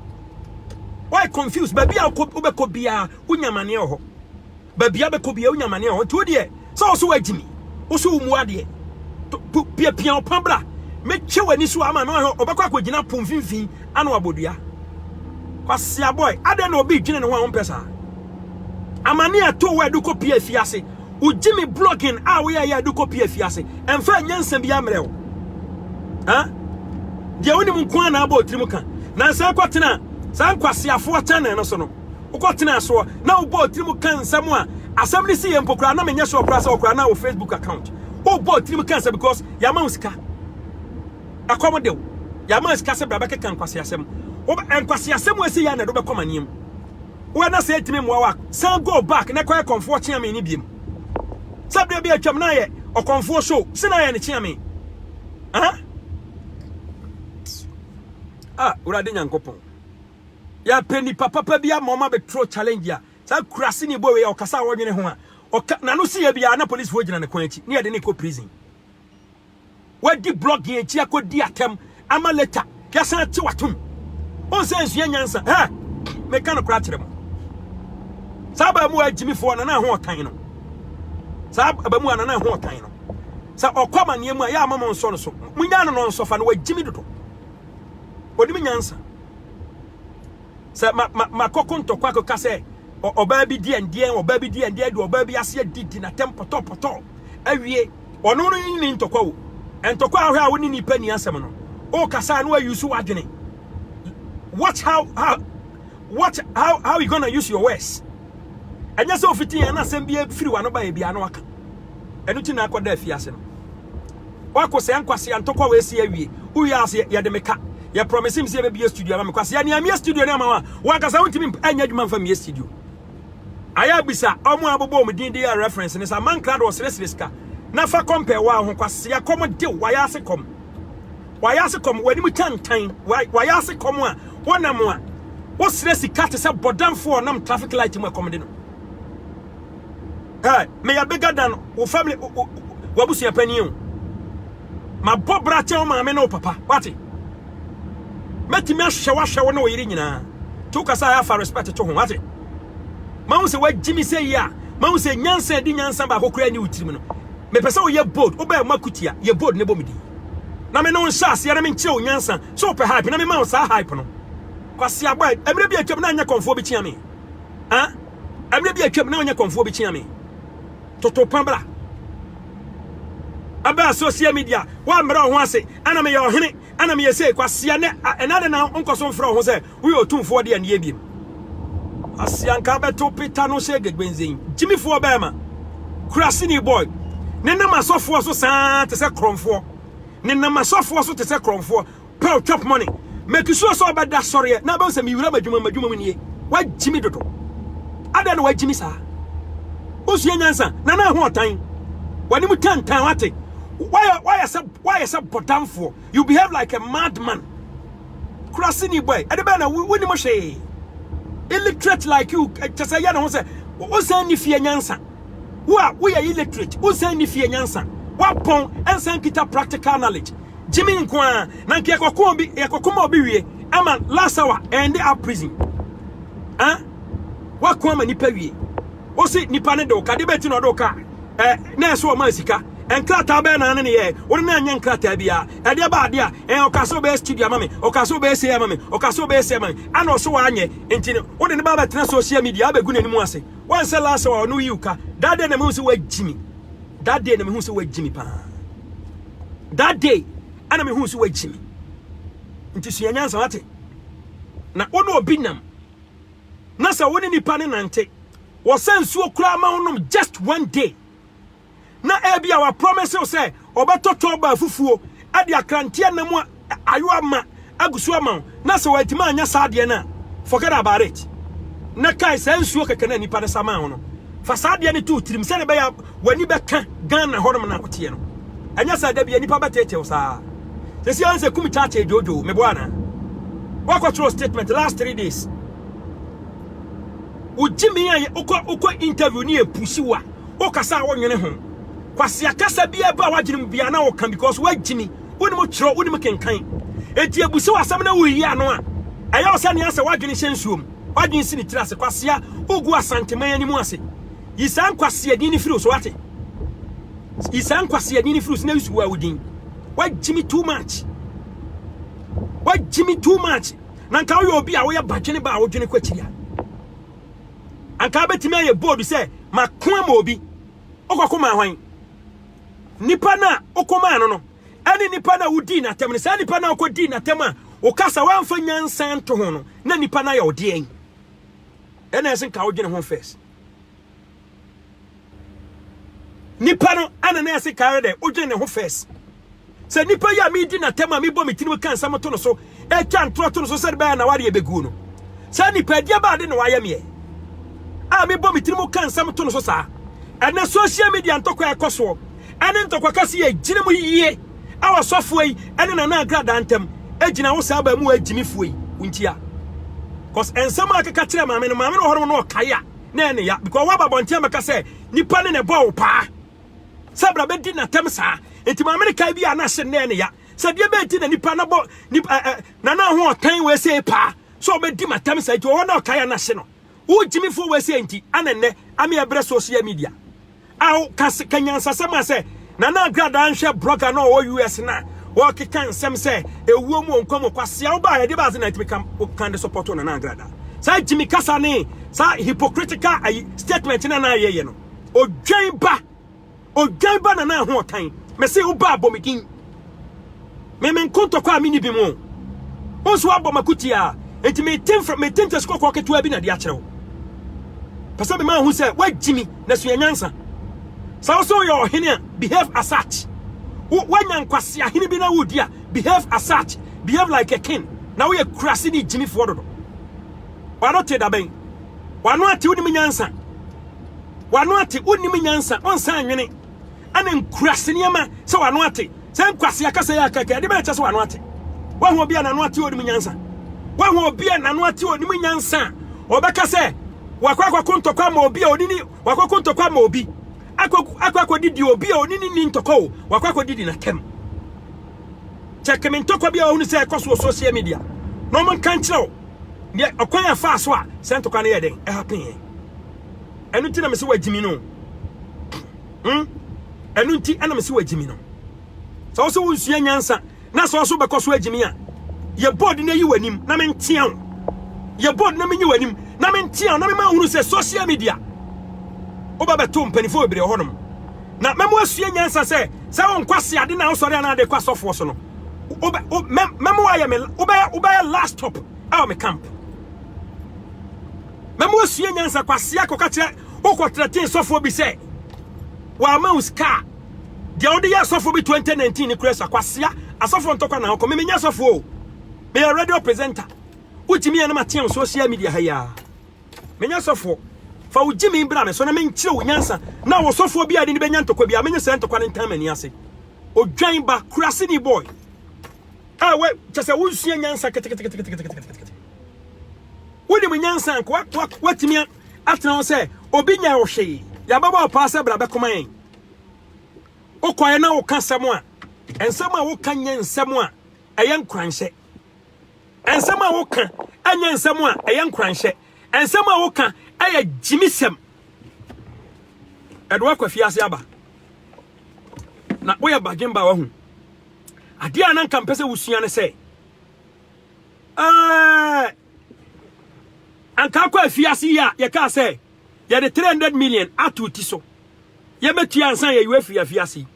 wɔyɛ confused baabi a wobɛkɔ biara wonyamaneɛ wɔ hɔ baabi abɛkɔ bia wonya mane a ɔnti wo deɛ sɛ wo so wagyimi wo so wo mu adeɛ piapia ɔpa bra mɛtwe w'ani so ama no ahwɛ ɔbɛkɔ akɔgyina po mfimfini ana wabɔdua kwasia boy adɛn na obi dwene ne ho a wompɛ saa amane a ɛtoo wo a ɛde kɔ pie afiase wogye me blogging a woyɛ yɛ ɛde kɔ pie afiase ɛmfa ɛnyɛ nsɛm bi ammerɛ wo deɛ wonim nko a na abɔ ɔtirim ka nansa kɔtena saa nkwasiafoɔ kyɛnɛ no so no wokɔtenaa soɔ na wobɔ tirim ka nsɛm a asɛm no si yɛ mpo koraa na menyɛ sure koraa sɛ ɔkoraa na wo facebook account wobɔ tirim ka nsɛm because yɛama wo sika ɛkɔm de wo yɛama wo sika sɛ bra bɛkeka nkwaseasɛm nkwaseasɛm asi yɛ na ɛde wobɛkɔ maneɛm woɛ na sɛ ɛtumi mmoa wa san go back na kɔyɛ kɔmfoɔ kyea me ne biem sɛ berɛ bi atwam na ayɛ ɔkɔmfoɔ show sɛ na ayɛ ne kyea me ah wurade nyankopɔn Yɛpɛ nipa papa bi ama ɔma bɛ throw challenge a saa akurase ni bɔ wei a ɔkasa a ɔnwene ho a ɔka n'ano si yɛ bi a na polisifo gyina ne kwan akyi ne yɛde ne kɔ prison wadi blogging akyi akɔ di atɛm ama later yɛsan ate watom wɔn sɛ nsua nyansa hɛ meka no kora kyerɛ mo saa abaamu a gyimifoɔ a nana ho ɔtan no saa abaamu a nana ho ɔtan no sɛ ɔkɔ amaneɛ mu a yɛ ama mo nsɔ no so monya no no nsɔfa no wagyimi dodo ɔnim nyansa sɛ ma ma makɔko ntɔkwa akɔka sɛ ɔbaa bi deɛ ndeɛ ɔbaa bi deɛ ndeɛ de ɔbaa bi ase adidi na tɛm pɔtɔpɔtɔ awie ɔno no ne ntɔkwa o ntɔkwa ahwɛ a wo ne nipa ni asɛm no o kasa no ayi so wadwene watch how how watch how how you gonna use your words ɛnyɛ sɛ ofiti yɛn na asɛm bi firi wa no ba yɛ bi ano aka ɛno ti na akɔda afiase no Ɔko sɛɛ nkwasea ntɔkwa wei si awie. Wowie a se yɛde me ka. Yɛ promise me se yɛbɛbie studio ama me. Kwasea nea mie studio no ama wo a, wo ankasa wontumi nyɛ adwuma mfa mmie studio. Ayɛ abisa ɔmo a abobɔ wɔn din de yɛ reference no sɛ Amankra de ɔsrɛsrɛ sika na fa compare wo ara ho. Kwasea kɔm de wo, wayɛ ase kɔm. Wayɛ ase kɔm, w'anim tantan, wayɛ ase kɔm a wonam a wosrɛ sika te sɛ bɔdamfoɔ a ɔnam traffic light mu a kɔm de no. Hey, me ya bigger than wo family, wabusua panyin o. Ma bɔ bra kyɛ wo maame ne wo papa. Wate? Mɛtumi ahwɛ wahwɛ wo ne wo yere nyinaa. To kasa a afa respect to ho. Wate? Ma wo sɛ wagyi me sɛ yi a, ma wo sɛ nyansa di nyansa baako kura ne wo tirim no. Mepɛ sɛ woyɛ bold, wobɛyɛ ma kutia, yɛ bold ne bɔ me di. Na me ne wo nhyɛ aseɛ na me nkyerɛ wo nyansa. So wopɛ hype na me ma wo saa hype no. Kwasi aboa, mmerɛ bi atwam na anyɛ kɔmfoɔ bi kyea me. Ah? Ɛberɛ bi atwam na ɔnyɛ kɔmfoɔ bi kyea me toto pa bra ɛbɛɛ social media woammrɛ ɔho ase ɛna meyɛ ɔhene ɛna meyɛ sei kwasia nɛ ɛna de na nkɔ so mfrɛ ɔho sɛ woyɛ ɔtumfoɔ de aneɛ biem kwasia nka bɛto peta no sɛ gegbenzen gyimifoɔ bɛɛma kurasini boy ne nam asɔfoɔ so saa te sɛ korɔmfoɔ ne nam asɔfoɔ so te sɛ korɔmfoɔ Paul chop money. Make sure sɛ ɔbɛda sɔreɛ na bɛhu sɛ mewura m'adwuma m'adwuma mu nie. Wagye me dodo. Adɛn na wagye me saa? Wosua nyansa na na ho ɔtan. W'anim tantan wate. Wayɛ wayɛ sɛ wayɛ sɛ bɔdamfoɔ. You behave like a madman. Kurasini boy. Ɛde bɛn na wonim hwee. Illiterate like you kyɛ sɛ yɛ ne ho sɛ wosan ni fie nyansa. Wo a woyɛ illiterate wosan ni fie nyansa. Wapɔn ɛnsan kita practical knowledge. Gyimi nko ara na nka yɛkɔko obi yɛkɔko ma obi wie ama last hour end up prison ah wako ama nipa wie wosi nipa ne de wo ka de bɛti na ɔde wo ka eh, na ɛsɛ wɔn ma sika nkrataa bɛyɛ na ne ne yɛ wɔn na nyɛ nkrataa bi a ɛdeɛ ba adeɛ a ɛn ɔka sɛ ɔbɛyɛ studio ama mi ɔka sɛ ɔbɛyɛ sɛ ama mi ɔka sɛ ɔbɛyɛ sɛ ama mi ɛna ɔsɛ wɔanyɛ nti no wɔde ne ba abɛtena social media abɛgu n'anim ase wɔn sɛ last hour ɔno yi ka that day na mi hu sɛ wɔagyi mi that day na mi hu sɛ wɔagyi mi paa. that day ana mehu so wagyi me nti sua nyansa wate na wo ne obi nam na sɛ wo ne nipa ne nante wɔsɛ nsuo koraa ma wonom just one day na ebi a wapromise wo sɛ ɔbɛtɔ tɔba afufuo de akranteɛ nam a Ayo ama agu so ama wo na sɛ wantumi anyɛ saa adeɛ no a, forget about it. Na kae saa nsuo kɛkɛ no a nnipa no sa maa wo no, fa saa adeɛ no to wo tirim sɛdeɛ ɛbɛyɛ a w'ani bɛka Ghana hɔnom no a woteɛ no. Ɛnyɛ saa da bi a nnipa bɛteetee wo saa. Sɛsi ara sɛ kum kyakyee dwoodwoo, meboa anaa? Woakɔtwerɛ statement last three days. Wogye me a wokɔ wokɔ interview ne yɛpusi wo a, wokasa a wonwene ho. Kwasea kasa biara ba w'adwene mu biara na woka because woagye me. wonim kyerɛw wonim kenkan eti ebusi w'asɛm na woyi ano a ɛyɛ wo sɛ nea sɛ woadwene hyɛ nsuom woadwene si ne tiri ase kwasea wogu asanteman anim ase yi saa nkwasea din ne firi so wate yi saa nkwasea din ne firi so na yusu wo a wodin wagyimi too much wagyimi too much na nka woyɛ obi a woyɛ badwene ba a wodwene kɔ akyiri a anka bɛtumi ayɛ bold sɛ mako ama obi wokɔko ma hwan Nnipa no a wokomaa no no ne nnipa no a wodii n'atam no, saa nnipa no a wokodii n'atam a wokasa woamfa nyansa nto ho no, na nnipa no ayɛ wo deɛn? Ɛna ɛsɛ nka wodwene ho first. Nnipa no ana na ɛsɛ ka ayɛ dɛ wodwene ne ho first. Sɛ nipa yi a medi no atɛm a mebɔ me tirim ka nsɛm to no so, twa ntorɔ to no so sɛde bɛyɛ n'awareɛ bɛguo no, saa nipadeɛ bɛn ade na wayɛ meɛ a mebɔ me tirim ka nsɛm to no so saa? Ɛnɛ social media ntɔkwa a ɛkɔ soɔ ɛne ntɔkwa kɛse yɛ gyina mu yie a ɔsɔfoɔ yi ɛne Nana Agradaa ntam gyina wo saa baamu a agyimifoɔ yi wontia cause nsɛm a keka kyerɛ maame no maame no hɔ no na ɔkae a na ɛne ya because woaba bɔnten mɛka sɛ nipa ne na ɛbɔ wo paa sɛ bra bɛdi n'atɛm saa enti maame no kae bi a na se nnɛɛ ne ya sɛ deɛ bɛɛti na nipa na bɔ nipa ɛ na na ho ɔtan wɔ ɛsɛ paa sɛ ɔbɛdi m'atɛm saa enti ɔwɔ na ɔkae a na se no wogyimi fo wɔ ɛsɛ enti ana nnɛ ame ɛbrɛ social media awo kase kanyansasɛm a sɛ na na agradaa nhwɛ blogger na ɔwɔ US na wɔkeka nsɛm sɛ ewuo mu nkwa mu kwasea wo baa ɛde baase na ɛtumi ka kan de support na na agradaa saa gyimi kasa ne saa hypocritical ayi statement na na ayɛyɛ no Odwan ba Odwan ba Nana Ahoɔtan me se wo ba abɔ me din me me nko ntɔkwa a menni bi mo wo nso wabɔ makuti a enti mete mfra mete ntɛsi kɔkɔɔ ketewa bi na de akyerɛ wo pɛ sɛ mema ho sɛ woagyi mi na sua nyansa sɛ wo sɛ woyɛ ɔhene a behave as such wo woanya nkwase ahene bi na wodi a behave as such behave like a king na woyɛ kurase ne gyimifoɔ dodo wano te dabɛn wano ate wonim nyansa w'ano ate, wonnim nyansa, wonsa anwene, ɛne nkuraase nneɛma sɛ w'ano ate. Sɛ nkwasi akasa yɛ akaka, ɛde bɛn kyɛ sɛ w'ano ate? Woahu obi a n'ano ate onim nyansa? Woahu obi a n'ano ate onim nyansa a ɔbɛka sɛ wakɔ akɔko ntɔkwa ama obi a onini, wakɔ akɔko ntɔkwa ama obi, akɔ akɔ akɔdidi obi a onini ni ntɔkwa o, wakɔ akɔdidi n'atɛm. Kyɛke me ntɔkwa bi a ɔhunu sɛ ɛkɔ so wɔ social media na ɔmo nka nkyerɛ wo deɛ ɔkwan a ɛfaa so a sɛ ntɔkwa no yɛ den ɛha pee. ɛno nti na mese wagyimi no hmm? ɛno nti na mese wagyimi no sɛ wo sɛ wonsua nyansa na sɛ ɔso bɛkɔ so agyimi a yɛ bɔɔd no ayi w'anim na mentea wo yɛ bɔɔd no menyi w'anim na mentea wo na mema hunu sɛ social media woba bɛto mpanimfoɔ bebree wɔ hɔnom na mɛmo asua nyansa sɛ sɛ wonkɔ ase ade na wosɔre anaa de kɔ asɔfoɔ so no mɛmo ayɛ me wobɛyɛ last stop ɛwɔ me camp Mɛma woasua nyansa. Kwasea, kɔka kyerɛ wo kɔtratee sɔfoɔ bi sɛ wɔama wo sika a deɛ wode yɛ asɔfoɔ bi 2019 ne kura sa. Kwasea, asɔfoɔ ntɔkwa na wokɔ. Memenyɛ asɔfoɔ o. Meyɛ radio presenter. Wotumi yɛ na mateɛ wo social media ha yi a. Menyɛ asɔfoɔ. Fa wo gyimi bra me so na menkyerɛ wo nyansa na wɔ sɔfoɔ bi a de ne bɛnya ntɔkwa bi a menyɛ saa ntɔkwa no ntan m'ani ase. Odwan ba, kuraseni boy. Ah, we, kyɛ sɛ wonsua nyansa keteketeketeketeketeketekete. wonim nyansa nka watumi atena hɔ sɛ obi nya wo hwee yɛabɛbɔ ɔpaa sɛ bra bɛkoma yɛn wokɔɛ na woka nsɛm a nsɛm a woka nyɛ nsɛm a ɛyɛ nkoranhyɛ nsɛm a woka ɛnyɛ nsɛm a ɛyɛ nkoranhyɛ nsɛm a woka ɛyɛ gyimisɛm ɛde wakɔ afiase aba na woyɛ badwemba wahu adeɛ a na nka mpɛ sɛ wosua ne sɛ Ɛɛ, anka akɔ afiase yi a yɛkaa sɛ yɛde 300 million ato ti so yɛbɛtua ansa na yɛyi afiri afiase yi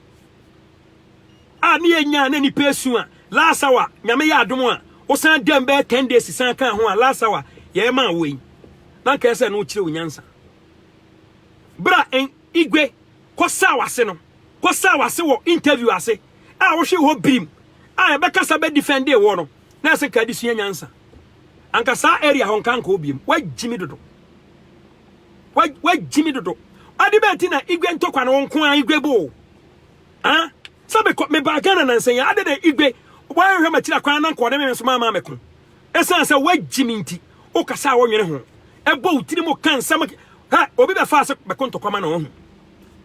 a ne yɛnyaa na nipa esu a last hour nyame yɛ adom a wosan dɛm bɛyɛ 10 days san ka ho a last hour yɛyɛ maa wo yi na nkae sɛ no wokyerɛ wo nyansa bra Igwe, kɔsɛɛ w'ase no, kɔsɛɛ w'ase wɔ interview ase a wohwee hɔ birim a yɛbɛkasa bɛ defendee woɔ no, na ɛsɛ nka adesua nyansa. Anka saa area hɔ nka nkɔɔ biom. Woagyimi dodo. Woagyimi dodo. Ade bɛn ti na Igwe ntɔkwa no wo nko ara Igwe boo? Ah? Sɛ mekɔ, mebaa Ghana nansa yi, ade na Igwe, wɔanhwɛ m'akyiri akwan na nkɔɔ ne me nso maa maa me ko. Esiane sɛ woagye me nti, wokasa a wonnwene ho, bɔ wo tirim ka nsɛm. Hɛ, obi bɛfa ase bɛko ntɔkwa ma na wahu.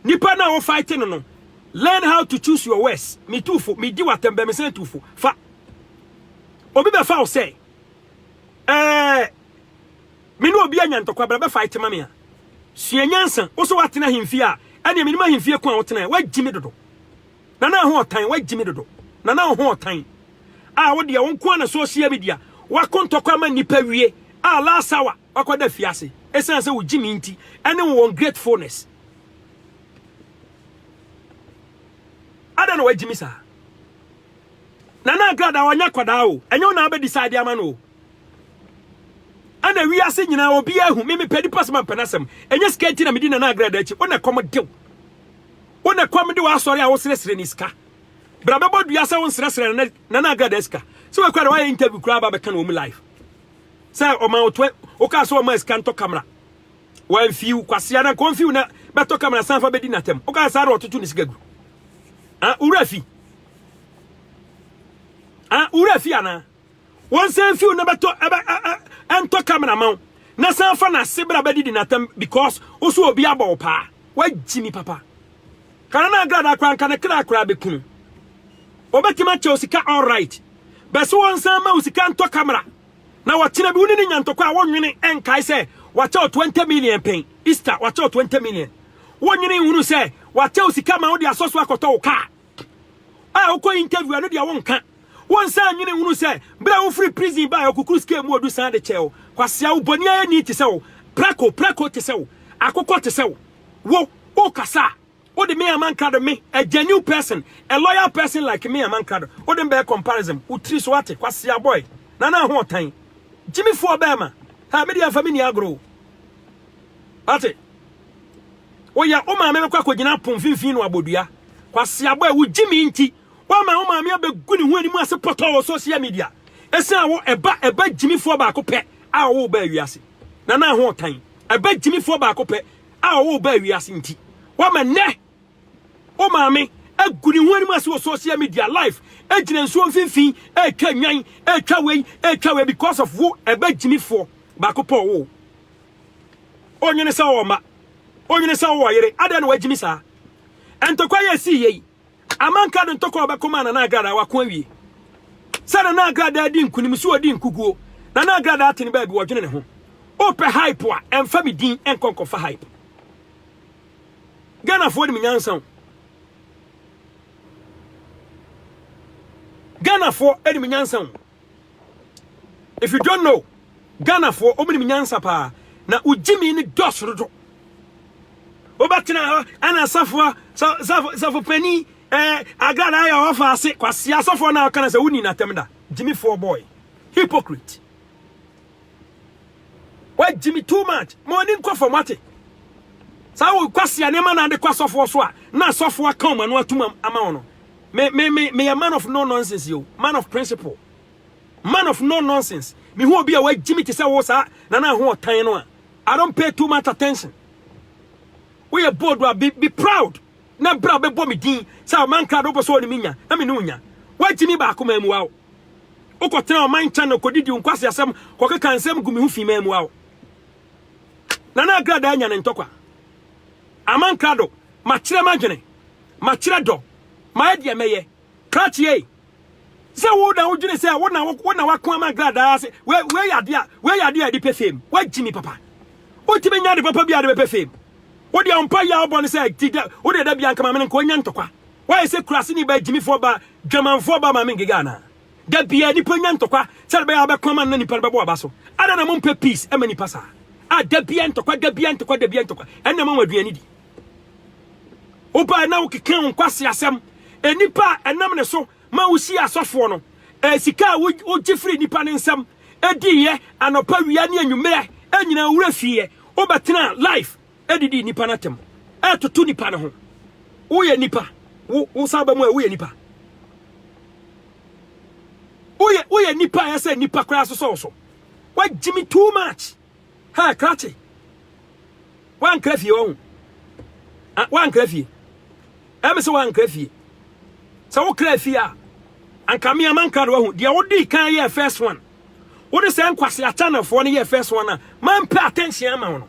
Nipa no a wo fight no no, learn how to choose your words. Me tu fo, me di wo atɛm, bɛ me sɛn tu fo. Fa. Obi bɛfa wo sɛ, ɛɛ, me ne obi anya ntɔkwa, bra bɛ fight ma me a. Sua nyansa, wo so woatena ahemfie a, ɛneɛ menim ahemfie ko a wotena, woagye me dodo. Nana ho ɔtan wagyi me dodo. Nana wo ho ɔtan a wo deɛ wo nko na social media wako ntɔkwa ma nipa wie a last hour wakɔda fiase ɛsiane sɛ wogye me nti ɛne wo ungratefulness ada na wagyi me saa Nana agrada ɔnyɛ kwadaa o ɛnyɛ wo na abɛ decide ama no o ɛna wiase nyinaa obi ahu me mepɛ nipa sɛ mampɛ no asɛm ɛnyɛ sika nti na medi Nana agrada akyi wo na ɛkɔm dew Wo na ɛkɔm de w'asɔre a wosresre ne sika bra bɛbɔ dua sɛ wonsresre na na na agrada sika sɛ wakura de wayɛ interview kura ba bɛka no wɔn live sɛ ɔma wo twe woka sɛ ɔma sika ntɔ kamera wɔn fiw kwasia na nkɔn fiw na bɛtɔ kamera san fa bɛdi n'atɛm woka saa na ɔtoto ne sika gu ah wura fi ah wura fi ana Wɔn san mfi wo na bɛtɔ ɛbɛ ɛntɔ camera ma wo na san fa n'ase bra bɛdidi n'atam because woso obi abɔ wo paa wagyi ni papa kana na agrada kora nka ne kra kora bɛkunu wɔbɛtumi akyɛ wo sika all right bɛso wɔn san ma wo sika ntɔ camera na wɔkyena bi wo ne ne nyantɔkɔ a wɔnwene ɛnkae sɛ wakyɛ wo 20 million pɛn easter wakyɛ wo 20 million wɔnwene nhunu sɛ wakyɛ wo sika ma wode asɔ so akɔtɔ wo kaa a wokɔ interview a no deɛ wonka wonsan nwene nhunu sɛ berɛ a wofiri prison baa okukuru scale mu odu san de kyɛɛ wo kwasea wo bɔne ayɛ ni te sɛ wo prako prako te sɛ wo akokɔ te sɛ wo wo wokasa a wode me amankrado me a genuine person a loyal person like me amankrado wode mbɛɛ comparison wo tiri so ate kwasea boy na na ho ɔtan gyimifoɔ bɛɛma ha medeɛ mfa me ni agoro ate O ya, wo maame bɛkɔ akɔgyina apon mfimfini na wabɔ dua. Kwaseabɔ ɛ, wogye me nti, woama wo maame abɛgu ne ho anim ase pɔtɔɔ wɔ social media. Ɛsiane wo, ɛba, ɛba gyimifoɔ baako pɛ a ɔwɔ wo baa wiase. Nana Ahoɔtan, ɛba gyimifoɔ baako pɛ a ɔwɔ wo baa wiase nti, woama nnɛ wo maame agu ne ho anim ase wɔ social media live, ɛgyina nsuo mfimfini, ɛretwa nnwan, ɛretwa wei, ɛretwa wei because of wo, ɛba gyimifoɔ baako pɛ ɔwɔ wo. Onyini sɛ ɔwɔ mma. Onyini sɛ ɔwɔ yere. Adɛn na wagyimi saa? Ntɔkwa yi a ɛsii yɛ yi, Amanka de ntɔkwa a ɔbɛko maa Nana Agradaa, wako awie. Sɛ Nana Agradaa di nkunim, so ɔdi nkuguo. Nana Agradaa ate ne baabi, ɔdwene ne ho. Wopɛ hype a, ɛmfa me din nkɔ nkɔfa hype. Ghanafoɔ nim nyansa o. Ghanafoɔ nim nyansa o. If you don't know, Ghana foɔ wɔn nim nyansa paa na wo gyimi ne dɔɔso dodo. Wobɛtena hɔ ɛna safoɔ safo safo panyin ɛɛ agrada ayɛ ɔfa ase kwasi asɔfoɔ na ɔka na sɛ woni n'atɛm da gyimi foɔ boy hypocrite. wagyi me too much ma ɔni nkɔ fam ate saa wo kwasi anema na ade kɔ asɔfoɔ so a na asɔfoɔ aka wɔn ano atum ama wɔn no me me me meyɛ man of no nonsense yo man of principle man of no nonsense me hu obi a wagyi me te sɛ wo saa na na ho ɔtan no a I don't pay too much attention woyɛ bold a be, be proud na bra bɛbɔ me din sɛ ɔman kra de wopɛ sɛ ɔne me nya na me ne wo nya wagyi me baako ma mu wa wo Wokɔtena ɔman channel kɔdidi nkwaseasɛm kɔkeka nsɛm gu me ho fi ma mua wo. Nana Agrada anya ne ntɔkwa. Aman krado, makyerɛ m'adwene, makyerɛ dɔ, mayɛ deɛ mɛyɛ. Krakye ei! Sɛ wo na wodwene sɛ wo na wo na wako ama Agrada ase, wei yɛ adeɛ a, wei yɛ adeɛ a ɛde pɛ fame. Woagye me papa. Wotumi nya ade papa bi a de bɛpɛ fame. Wodeɛ wo mpaeɛ a wobɔ no sɛ ti da, wodeɛ da bia nka ma me no nka ɔnya ntɔkwa. Woayɛ sɛ kuraseni ba, agyimifoɔ ba, dwamanfoɔ ba, Maame Ngega anaa? Da biara nipa nya ntɔkwa sɛde bɛyɛ a bɛko ama no na nipa no bɛbɔ aba so. Adɛn na mompɛ peace ɛma nipa saa? A da biara ntɔkwa, da biara ntɔkwa, da biara ntɔkwa. Ɛnna ɛma wɔn aduane di. Wobae na wokeka wo nkwasi asɛm. Nipa a ɛnam ne so ma wosi asɔfoɔ no, eh, sika a wogye firi nipa ne nsam, ediiɛ anɔpa, wia ne anwummerɛ, ɛnyinaa wura fieɛ, wobɛtena life, Ɛdidi nnipa no atɛm. Ɛtoto nnipa no ho. Woyɛ nnipa. Wo, wo saa ba mu a, woyɛ nnipa. Woyɛ, woyɛ nnipa a ɛsɛ nnipa koraa sosɔ wo so. Woagye me too much. Ha, krakye. Woankra fie ɔho. Ah, woankra fie. Ɛme sɛ woankra fie. Sɛ wokra fie a, anka me ama nkra no wahu. Deɛ wodii kan yɛ first one. Wode sɛ nkwase akyanafoɔ no yɛ first one a, mampɛ attention ama wo no.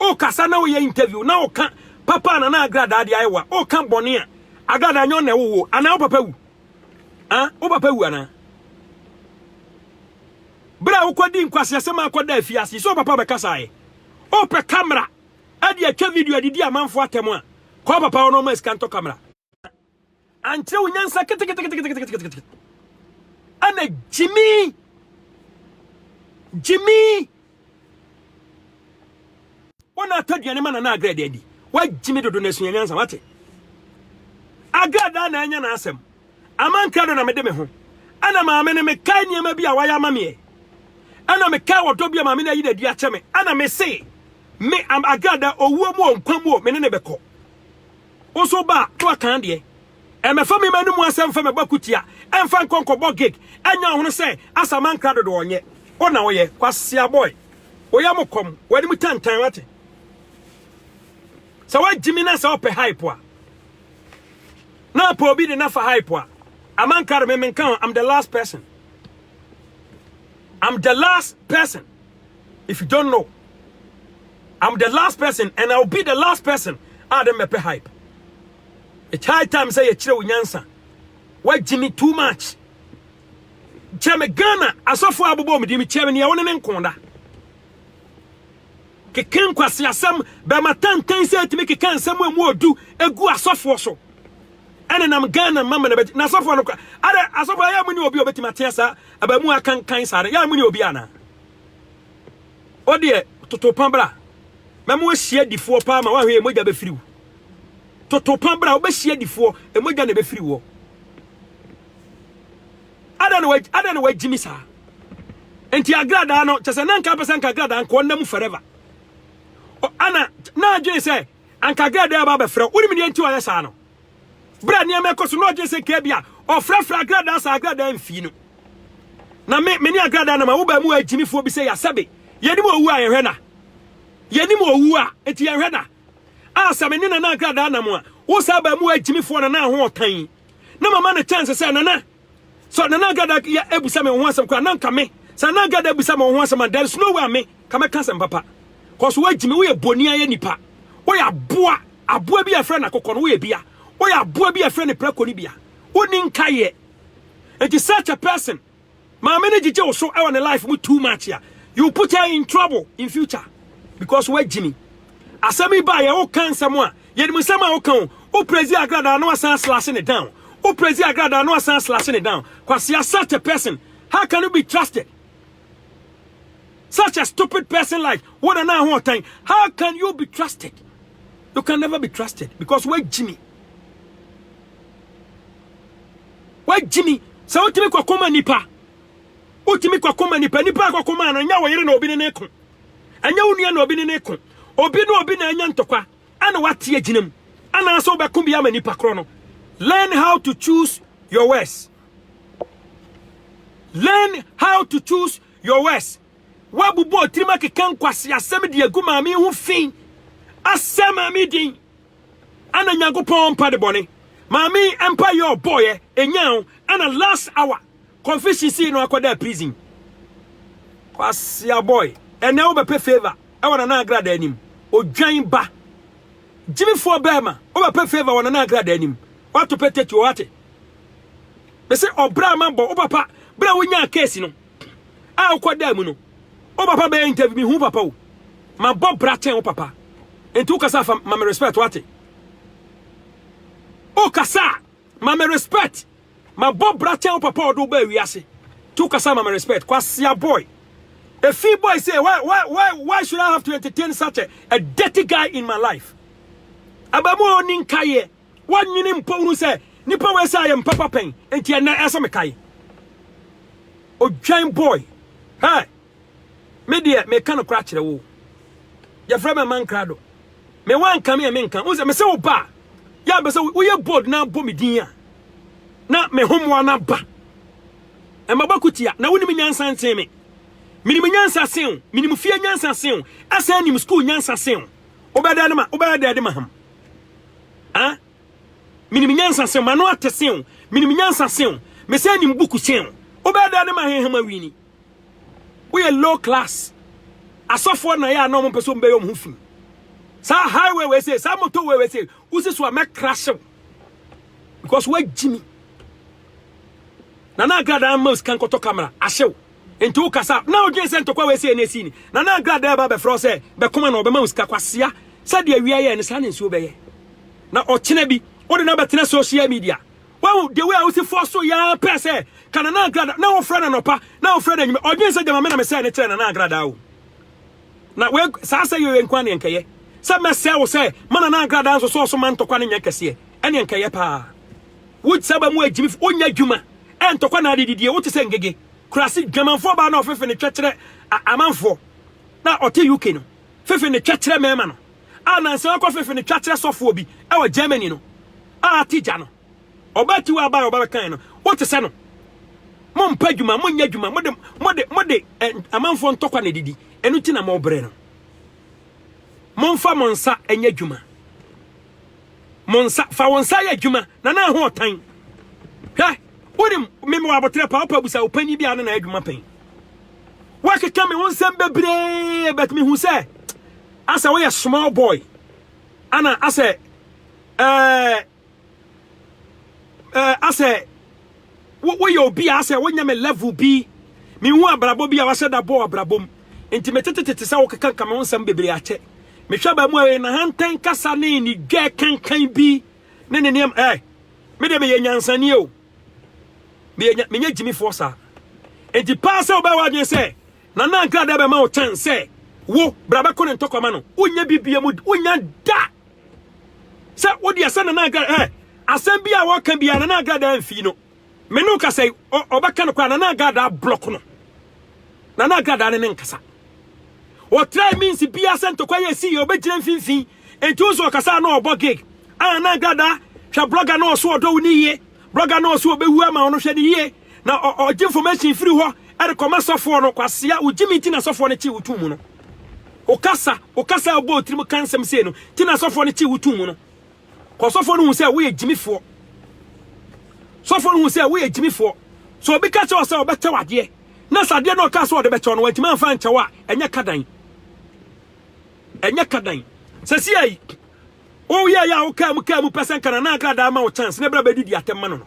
O kasa na o yɛ interview na o ka papa ana na agradaa de ayɛ wa o ka bɔne a agradaa nyɛ ɔna ɛwo wo ana o papa wu ah o papa wu ana bra o kɔ di nkwasi asɛm akɔ da afi ase so papa bɛ kasa ayɛ o pɛ camera ɛde atwa video ɛde di amanfo atɛm a kɔ papa ɔno ɔma sika ntɔ camera ankyerɛ wo nyansa keteketeketeketekete ɛna gyimi gyimi wɔn atɔ aduane ma nana agrɛ deɛ di wagyimi dodo na esua nyansa wate agrɛ daa na anya n'asɛm amankra do na mede me ho ɛna maame no mekae nneɛma bi a wayɛ ama meɛ ɛna mekae wɔdɔ bi a maame no ayi n'adi akyɛ me ɛna mese me agrada owuo mu o nkwa mu o me ne ne bɛkɔ Wo nso ba a, na wakan deɛ. Ɛmmɛfa me mma no mu asɛm mfa mɛbɔ akutia, ɛmfa nkɔ nkɔbɔ gig, ɛnyɛ wo hwene sɛ Asamankrah dodo ɔnyɛ wo na woyɛ, kwasea boy. Woyɛ mo kɔm, w'anim tantan, wate. Sɛ woagye me na sɛ wopɛ hype a, na apɛ obi de na fa hype a, Amankrah de me menka ho, I'm the last person. I'm the last person. if you don't know i'm the last person and i'll be the last person a de mɛpɛ hype it's high time sɛ yɛkyerɛ wo nyansa woagye me too much kyerɛ me ghana asɔfoɔ abobɔ me di me kyerɛ me neɛ wo ne ne nko da keke nkwase asɛm bɛma tantan sɛ atumi keka nsɛm a mu ɔdu egu asɔfoɔ so Ɛnenam Ghana mma mma na ɛbɛte. Na asɔfoɔ no kora. Adɛ asɔfoɔ ayɛ mo ne obi a ɔbɛtumi atea saa abaamu a akankan saa no. Yɛ a mo ne obi anaa. Wo deɛ toto pa bra. Mɛma wɔahyia difoɔ paa ma woahwɛ yɛ mogya bɛfiri wo. Toto pa bra wobɛhyia difoɔ mogya na ɛbɛfiri woɔ. Adɛ na adɛ na wagyimi saa. Nti agradaa no kyɛ sɛ na nka apɛ sɛ nka agradaa nkoɔ nna mu forever. Ana na adwene sɛ Anka girl dɛn aba abɛfrɛ wo? Wonim deɛ nti ɔyɛ saa no? Berɛ a nneɛma ɛkɔ so na ɔdwene sɛ nka bi a ɔfrɛfrɛ agradaa saa agradaa mfii no. Na me me ne agradaa nam a wobaa mu a agyimifoɔ bi sɛ yɛ asɛbe. Yɛnim owu a yɛhwɛ na. Yɛnim owu a enti yɛhwɛ na. A sɛ me ne nana agradaa nam a wosaa baa mu a agyimifoɔ nana ho ɔtan. Na mama no chance sɛ nana. So na na Gada yɛ abisa me ho asɛm koraa na nka me sɛ na Gada abisa me ho asɛm a there is no way a me ka mɛka asɛm papa cause woagyi me woyɛ boni ayɛ nipa woyɛ aboa aboa bi a ɛfrɛ no akokɔ no woyɛ bia woyɛ aboa bi a ɛfrɛ no prako no bia woni nka yɛ nti such a person maame no gyigye wo so ɛwɔ ne life mu too much a you put her in trouble in future because woagyi me asɛm yi ba yɛ wo ka nsɛm a Yɛnim nsɛm a woka o. Wo prezi agradaa na wasan aslase ne down. Wo prezi agradaa na wasan aslase ne down. Kwasea such a person how can you be trusted? Such a stupid person like wo na na ho ɔtan how can you be trusted? You can never be trusted because we're Jimmy. We're Jimmy. So what me kokoma nipa? What me kokoma nipa? Nipa kokoma no nya wo yere na obi ne ne ko. Ɛnyɛ wo nua na obi ne no reko. Obi ne obi na anya ntɔkwa na wate agyina mu. Anaasɛ wobɛko bi ama nipa korɔ no. Learn how to choose your words. Learn how to choose your words. Woabubu otirim akeka nkwasi asɛm de agu maame ho fi. Asɛ maame din. Ana Nyankopɔn mpa de bɔne. Maame mpa yɛ ɔbɔɔyɛ, enyaa wo, ana last hour. Kofi hye sii no akɔdaa prison. Kwasia boy ɛnɛ wo bɛpɛ favour ɛwɔ nana agrada anim odwan ba Jimmy foɔ bɛɛma wo bɛpɛ favour wɔ nana agrada anim wato pɛ tɛtuo wate bɛsɛ ɔbra ma bɔ wo papa bra wo nyaa case no a wokɔ daa mu no wo papa bɛyɛ interview mi hu papa wo ma bɔ bra kyɛn wo papa nti wo kasa fa ma me respect wate wo kasa ma me respect Mabɔ bra kyɛn wo papa a ɔde wo baa wiase nti wo kasa ma me respect Kwasea boy Efi boy say why why why why should I have to entertain such a, a dirty guy in my life Abamu a ɔni nkaeɛ wɔnwene mpo wuru sɛ nipa wei sɛ ayɛ mpapa pɛn nti ɛnɛ ɛsɛ mekae Odwan boy Hey Me deɛ, meka nokorɛ akyerɛ wo. Yɛfrɛ me Aman Krado. Me woanka me a menka. Wo sɛ, me sɛ wo ba a, yɛ a mpɛ sɛ woyɛ bold na bɔ me din a, na me ho mmoa no aba. Mmabɔ ko tia, na wonim nyansa nsen me. Menim nyansa sen wo, menim fie nyansa sen wo, asan nim school nyansa sen wo. Wobɛda de ma, wobɛyɛ dɛ de ma ham. Ah? Menim nyansa sen wo, m'ano ate sen wo, menim nyansa sen wo, mesan nim buku sen wo. Wobɛyɛ dɛ de ma heham awini. Woyɛ low class. Asɔfoɔ na yɛ a na wɔn mpɛ sɛ wɔn bɛyɛ wɔn ho fi. Saa highway wei se, saa motor wei wei se, wosi so a mɛ crash wo. Because wa jimi. Nana Agradaa mma sika nkɔtɔ kamera ahyew nti wo kasa na odwen sɛ ntɔkwa wɔ ɛsɛ na ɛsii ni Nana Agradaa ba bɛfrɛ sɛ bɛkoma na ɔbɛma wo sika kwasea sɛdeɛ awia yɛ ne saa ne nsuo bɛyɛ na ɔkyena bi wode no abɛtena social media Wahu the way a wosi fɔ so yaa pɛ sɛ ka Nana Agrada na wofrɛ no anɔpa na wofrɛ no anwummerɛ. Ɔdwen sɛ gyama me na mesɛe no kyerɛ Nana Agrada o. Na wei saa sɛ yɛ nko aneɛ nkɛyɛ sɛ mɛsɛe wo sɛ ma Nana Agrada nso sɔɔ so ma ntɔkwa no nyɛ kɛseɛ ɛneɛ nkɛyɛ paa. Wo sɛ ba mu agyimi wonya adwuma ɛntɔkwa na adedidie wote sɛ ngege kurase dwamanfoɔ baa na ɔfefe ne twɛkyerɛ amanfoɔ na ɔte UK no. fefe ne twɛkyerɛ mɛma no a nansa ɔkɔ fefe ne twakyerɛ sɔfoɔ bi wɔ Germany no a ate gya no ɔbaa tiwa abaa ɔbaa bɛkan no wote sɛ no mo mpa adwuma mo nyɛ adwuma mo de mo de mo de amanfoɔ ntɔkwa na didi ɛno ti na mo brɛ no mo mfa mo nsa ɛnyɛ adwuma Mo nsa, fa wo nsa yɛ adwuma, na na ɛho ɔtan. Hwɛ, wonim, meme wɔ aboterɛ paa, wopɛ abusa ɔpanyin bi a ne na adwuma pɛn. Woakeka me ho nsɛm bebree, but mehu sɛ asɛ woyɛ small boy, ana asɛ ɛɛ ɛɛ asɛ. Wo woyɛ obi a asɛ wonyɛ me level bi. Menhu abrabɔ bi a wahyɛ da bɔɔ abrabɔ mu. Nti metetetete sɛ wokekanka me ho nsɛm bebree akyɛ. Mehwɛ baa mu a ɛyɛ nahantan kasa ne nidwɛ kankan bi ne ne nneɛma eh. Me deɛ meyɛ nyansani o. Meyɛ nya menyɛ gyimifoɔ saa. Nti paa sɛ wobɛyɛ w'adwene sɛ Nana Ankradae bɛma wo kyɛn sɛ wo bra bɛko ne ntɔkwa ma no. Wonyɛ bi biam wonnya da. sɛ wo deɛ sɛ nana agrada ɛ asɛm bi a wɔka bi a nana agrada amfi no me ne wokasa yi ɔbɛka no koraa nana agrada blɔk no nana agrada ne ne nkasa ɔtrae means bia sɛ ntɔkwa yɛ si yɛ ɔbɛgyina mfimfini enti wo sɛ ɔkasa na ɔbɔ gig a nana agrada hwɛ blɔga na ɔso ɔdɔ wo ne yie blɔga na ɔso ɔbɛwu ama wo no hwɛ ne yie na ɔgye information firi hɔ ɛde kɔma sɔfoɔ no kwasea wogye me nti na sɔfoɔ no kye wo tum mu no wokasa wokasa abɔ otiri mu ka nsɛm sei no ti na sɔfoɔ no kye wo tum mu no kɔ sɔfoɔ no hu sɛ woyɛ gyimifoɔ sɔfoɔ no hu sɛ woyɛ gyimifoɔ so obi ka kyerɛ sɛ ɔbɛkyɛ wadeɛ na sɛ adeɛ no ɔka sɛ ɔde bɛkyɛ no wantumi amfa nkyɛ wo a ɛnyɛ kadan ɛnyɛ kadan sɛ si ayi woyɛ yɛ a wokaa mu kaa mu pɛ sɛ nkana na akradaa ma wo chance na ɛberɛ bɛdidi atɛm ma no no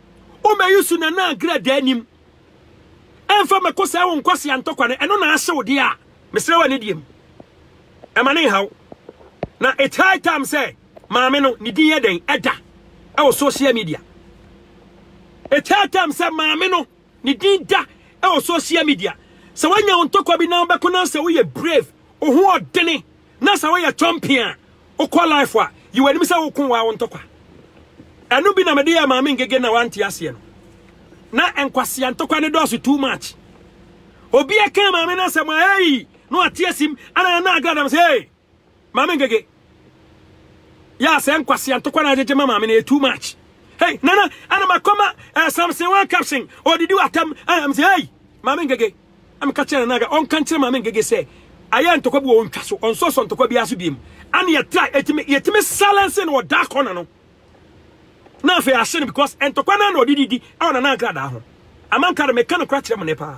Wo mɛyi so na na agra da anim. Ɛmfa mɛkɔ sɛ wo nkwasi antɔkwa no ɛno na ahyew deɛ a mesrɛ wɔ ne deɛ mu. Ɛma ne nhaw. Na it's high time sɛ maame no ne din yɛ dɛn ɛda ɛwɔ social media. It's high time sɛ maame no ne din da ɛwɔ social media. Sɛ wanya wo ntɔkwa bi na wobɛko na sɛ woyɛ brave, wo ho ɔdene Na sɛ woyɛ chɔmpen a wokɔ life a, yi w'anim sɛ woko woa wo ntɔkwa. Ɛno bi na mede yɛ maame ngege na wante aseɛ no. Na nkwasea ntɔkwa no dɔɔso too much. Obi ɛka maame no asɛm a hey! na wate asim ana na agra dam sɛ hey! maame ngege. Yɛ sɛ nkwasea ntɔkwa na agyegye ma maame no yɛ too much. Hey! Nana ana makɔma eh, Samson one caption ɔdidi watam eh, m sɛ hey! maame ngege. Na meka kyerɛɛ Nana Aga ɔnka nkyerɛ Maame Ngege sɛ ayɛ ntɔkwa bi wɔ ɔntwa so, ɔnsɔsɔ ntɔkwa biara so biom. Ɛne yɛtrae, ɛtumi, yɛtumi silence no wɔ dark corner no. Na afei yɛahye no because ntɔkwa no ara na ɔde didi wɔ Nana nkradaa ho. Ama nka de, meka no kora kyerɛ mo nnɛ paa.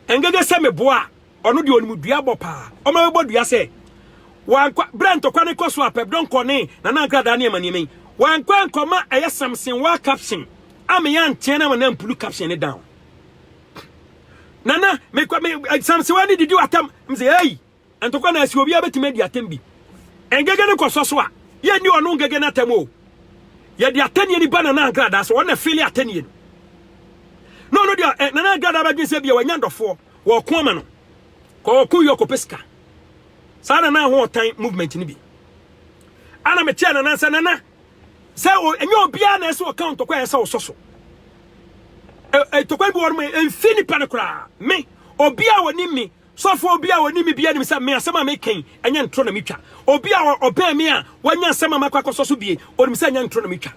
Ngege sɛ meboa a, ɔno deɛ ɔnim dua bɔ paa. Ɔma bɛbɔ dua sɛ, wankɔ, berɛ ntɔkwa no kɔ so a, Pɛpdɔn kɔ ne Nana nkradaa nneɛma nneɛma yi, wankɔ ankɔma ɛyɛ Samson waa caption, ama yɛanteɛ no ama no ampulu caption no down. Nana, me kwa me eh, samsewa ne didi atam. Me say, hey, ntokwa na asi obi abetime di atam bi. Engege ne koso so a, ye ni ono ngege na atam o. Ye di atanie ni bana na agrada so, ono fili atanie no. No ono dia, eh, nana agrada abadwen se bia wanya dofo, wo ko ama no. Ko wo ko yo ko pesika. Sa nana ho otan movement ni bi. Ana me tia nana nsa nana. sɛ ɛnyɛ obiara na ɛsɛ ɔka ntɔkwa a ɛsɛ ɔsɔ so ntɔkwa bi wɔn mu mfi nipa no koraa me obi a wɔnim me sɔfo obi a wɔnim me bi anim sɛ me asɛm a mekɛn ɛnyɛ ntoro na metwa obi a ɔbɛn me a wɔanya asɛm a makɔ akɔsɔ so bie onim sɛ ɛnyɛ ntoro na metwa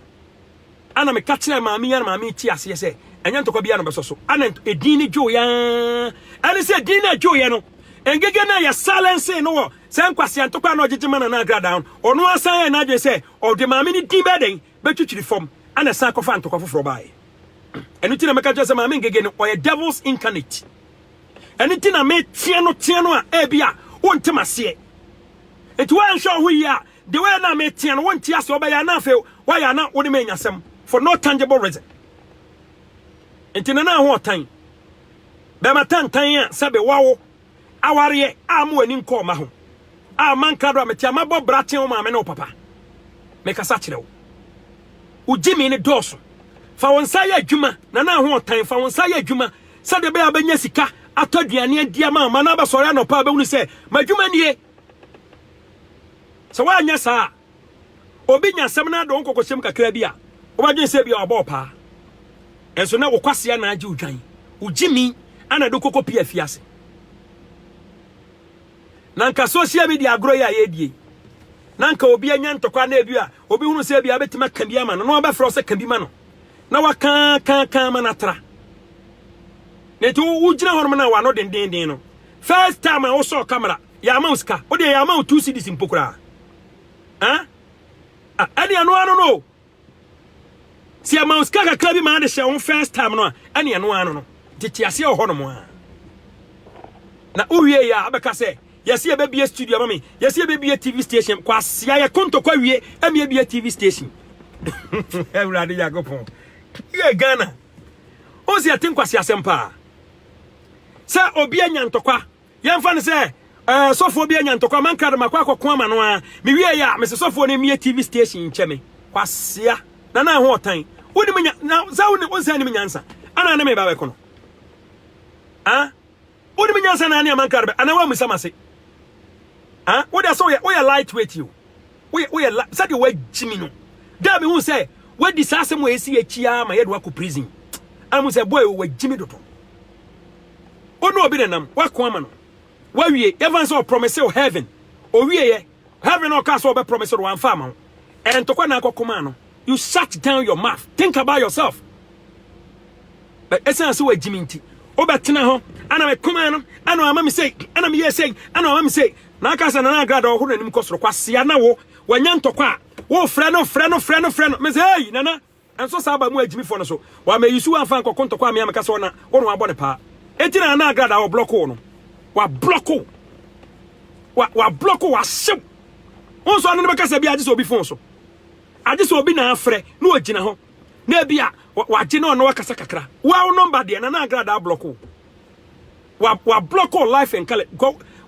ana meka kyerɛ maame yɛn maame ti aseɛ sɛ ɛnyɛ ntɔkwa bi a na bɛsɔ so ana edin ne dwo yɛn ɛne sɛ edin na dwo yɛn no ngege na yɛ silence no wɔ Saa nkwasea ntɔkwa a na ɔgyegye ma Nana Agradaa no, ɔno ara san yɛɛ n'adwene sɛ ɔde maame no din bɛyɛ dɛn? Bɛtwitwiri fam, ɛnna ɛsan kɔfaa ntɔkwa foforɔ baeɛ. Ɛno nti na mɛka kyerɛ sɛ Maame Ngege no, ɔyɛ devil's incarnate. Ɛno nti na meteɛ no teɛ no a ebi a wonte m'aseɛ. Nti woanhwɛ wo ho yie a, the way na meteɛ no wonte aseɛ, ɔbɛyɛ a na afei woayɛ a na wo ne me anya asɛm for no tangible reason. Nti Nana ho ɔtan, bɛrima tantan a sɛbe wawo Awareɛ a mo ani nkɔɔ mma ho a manka do a mete a mabɔ bra akyɛn wo maame ne wo papa. Mekasa kyerɛ wo. Wo gyimi no dɔɔso. Fa wo nsa yɛ adwuma, Nana Ahoɔtan, fa wo nsa yɛ adwuma sɛdeɛ ɛbɛyɛ a wobɛnya sika atɔ aduane adi ama wo mma na abɛsɔre anɔpa a wobɛhunu sɛ m'adwuma nie. Sɛ woanyɛ saa a, Obi nya asɛm no adɔ nkɔkɔsɛm kakra bi a, wobɛdwene sɛ ebia wabɔ ɔpaa. Ɛnso na wo kwasea na agye odwan. Wo gyimi ana de kɔkɔ pia fi ase. Na nka social media agorɔ yi a yɛredie. Na nka obi anya ntɔkwa na ebi a obi hunu sɛ ebia abɛtumi aka bi ama no na wabɛfrɛ wo sɛ ka bi ma no. Na waka ka ka ma no atra. Na nti wogyina hɔnom na wano dendenden no. First time a wosɔɔ kamera, yɛama wo sika. Wodeɛ yɛama wo two cedis mpo koraa. Huh? Ah, ɛne ɛno ano no. Sɛ ɛma wo sika kakra bi maa de hyɛ wo first time no a, ɛne ɛno ano no. Nti te aseɛ wɔ hɔnom a. Na wowie yɛ a, abɛka sɛ, yɛsi yɛbɛbie studio ama me, yɛsi yɛbɛbie TV station, kɔ aseɛ yɛ kontokɔ awie, ɛmi yɛbie TV station. Awurade Nyankopɔn, yɛ Ghana. Wo sɛ yɛte nkwasi asɛm paa. Sɛ obi anya ntɔkwa, Yɛmfa no sɛ ɛɛ sɔfoɔ bi anya ntɔkwa ma nkra de makɔ akɔko ama no ara. Mewiei a, mese sɔfoɔ no mmue TV station nkyɛ me. Kwasea, na na ɛho ɔtan. Wonim nya, na sɛ wonim, wonsan nim nyansa. Ana ne me ba bɛko no? Ah? Wonim nyansa na ne ama nkra de bɛ, anaa woammisa m'ase? Ah? Wo deɛ sɛ woyɛ, woyɛ lightweight o. Woyɛ, woyɛ, sɛdeɛ woagyimi no. Da a mehu sɛ woadi saa asɛm a ɛsi akyi ara ma yɛde woakɔ prison. Ana mu sɛ boy o, woagyimi dodo. Wo ne obi nenam, woako ama no, wawie, yɛmfa no sɛ ɔpromise wo heaven, owieɛ, heaven a ɔkaa sɛ ɔbɛpromise no wamfa ama wo, ɛyɛ ntɔkwa na akɔko maa no, you shut down your mouth, think about yourself. But ɛsiane sɛ wagyim nti, wobɛtena hɔ, ana meko maa no, ana wama me sei, ana meyɛɛ sei, ana wama me sei, na aka sɛ Nana Agrada ɔhoro n'anim kɔ soro, kwasea na wo, wanya ntɔkwa a, wofrɛ no, frɛ no, frɛ no, frɛ no, mese hei, Nana, Nso saa aba mu agyimifoɔ no so wamma Yesu amfa ankɔko ntɔkwa amea meka sɛ ɔna wo no abɔ ne paa enti na ana agrada a ɔblɔko wo no wablɔko wa wablɔko wahyew wo nso ɔno no bɛka sɛ bi agye sɛ obi fon so agye sɛ obi na afrɛ na ɔgyina hɔ na ebi a wagye na ɔno wakasa kakra wa wo nɔmba deɛ na na agrada ablɔko wa wablɔko life and color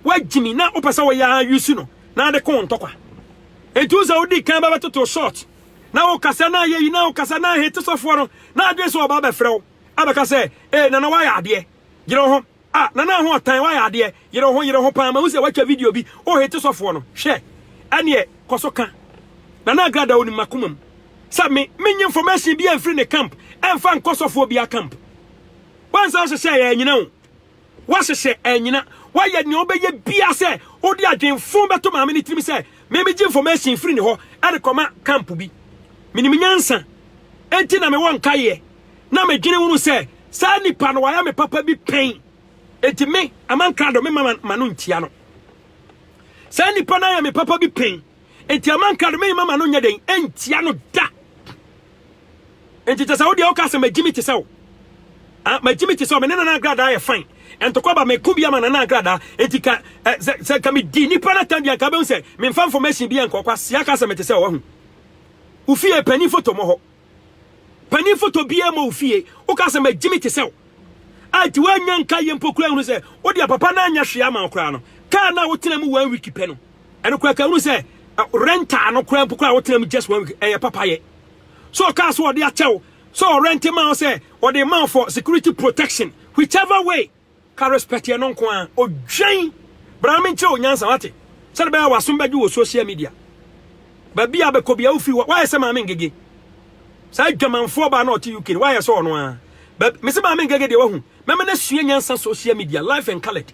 wagyimi na wopɛ sɛ wɔyɛ Yesu no na ade ko ntɔkwa enti wo sɛ wodi kan bɛbɛtoto short Na wo kasa na ayɛ yi na wo kasa na ahete sɔfoɔ no na adwene sɛ ɔba abɛfrɛ wo abɛka sɛ ee nana wayɛ adeɛ yere wo ho ah nana aho ɔtan wayɛ adeɛ yere wo ho yere wo ho paa mahu sɛ watwa video bi wo hete sɔfoɔ no hwɛ ɛneɛ kɔ so ka nana agrada onim makoma mu sɛ me menye information bi amfiri ne camp ɛmfa nkɔ sɔfoɔ bia camp wansa nhyehyɛ yɛ anyina wo Woahyehyɛ anyina. Woayɛ nea wobɛyɛ biara sɛ wode adwene fon bɛto maame no tirim sɛ memegye information firi ne hɔ de kɔma camp bi. Menim nyansa, enti na mewɔ nkaeɛ. Na medwene hunu sɛ saa nipa no wayɛ me papa bi pɛn, enti me, Aman Krado, memma m'ano ntia no. Saa nipa no ayɛ me papa bi pɛn. Enti ama nka no, meremma m'ano nyɛ den ntia no da. Enti kyɛ sɛ wo deɛ woka sɛ magyi me te sɛ wo. Ah, magyi me te sɛ wo, me ne Nana Agradaa yɛ fine. Ntɔkwa ba meko bi ama Nana Agradaa, enti ka eh, sɛ, sɛ nka medi nnipa no atam bi a, nka bɛhu sɛ memfa information bi nkɔ kwa, Sia ka sɛ mete sɛ wo, wahu. Wo fie panin foto mmɔ hɔ. Panin foto biaa mɔ wo fie. Wo ka sɛ magye me te sɛ wo. A nti woannya nka yɛ mpo kura hunu sɛ wo deɛ papa no anyɛ hwee ama wo koraa no. Car no a wo tena mu one week pɛ no ɛno koraa ka hunu sɛ rental no koraa mpo koraa wo tena mu just one week ɛyɛ papa yɛ. Sɛ ɔkaa sɛ ɔde akyɛ wo, sɛ ɔrente ma wo sɛ ɔde ma wo for security protection whichever way. Ka respecteɛ no nko ara. Odwan! Bra na menkyerɛ wo nyansa wate? Sɛdeɛ ɛbɛyɛ a w'asom bɛgye wɔ social media. Baabi a wobɛkɔ biara wofiri hɔ. Woayɛ sɛ Maame Ngege. Saa adwamanfoɔ baa na ɔte UK no woayɛ sɛ ɔno ara. Baabi, mese Maame Ngege deɛ wahu. Mɛma no asua nyansa social media, life and coloured.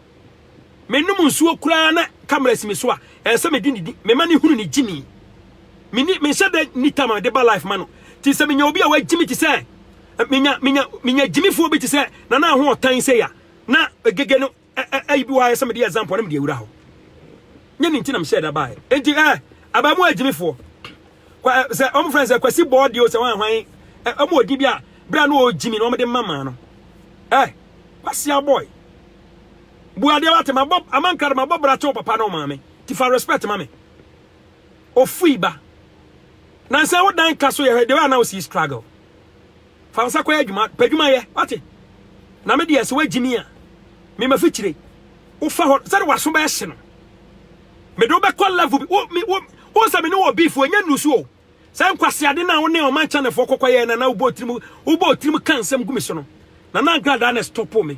Menom nsuo koraa na camera si me so a, ɛsɛ sɛ medi ne din. Mema no hunu ne gyimi. Menni, menhyɛ da nni time a mede ba life ma no. Nti sɛ menya obi a wagye me te sɛ Menya menya menya gyimifoɔ bi te sɛ nana aho ɔtan sɛ ya na egege no ɛyi bi wɔ ayɛ sɛ mede example na mede awura hɔ nyɛ ne nti na mehyɛ da baeɛ enti ɛ eh, abaa mu agyimifoɔ eh, sɛ ɔmo frɛ sɛ kwasi bɔɔ deɛ o sɛ wɔn ahwan ɔmo ɔdi bi a berɛ a na ɔgyimi na ɔmode mma maa no ɛ wasi abɔe buadeɛ wate mabɔ amankra de mabɔ bra kyɛw papa na ɔmaame ti fa respect ma me Ofui ba. Nansa wo dan ka so yɛ hwɛ the way a na wo si struggle. Fa wo nsa kɔyɛ adwuma, pɛ adwuma yɛ, wate? Na me deɛ sɛ woagye me a, me mafikyire. Wofa hɔ, sɛde w'aso bɛhye no, mede wo bɛkɔ level bi. Wo, me, wo, wo sɛ me ne wɔ beef, wɔnyɛ nnusu o. Saa nkwaseade no a wo ne ɔman Chinafoɔ kɔkɔyɛɛ na na wobɔ tirim, wobɔ tirim ka nsɛm gu me so no, na na nkradaa na ɛstɔpo me.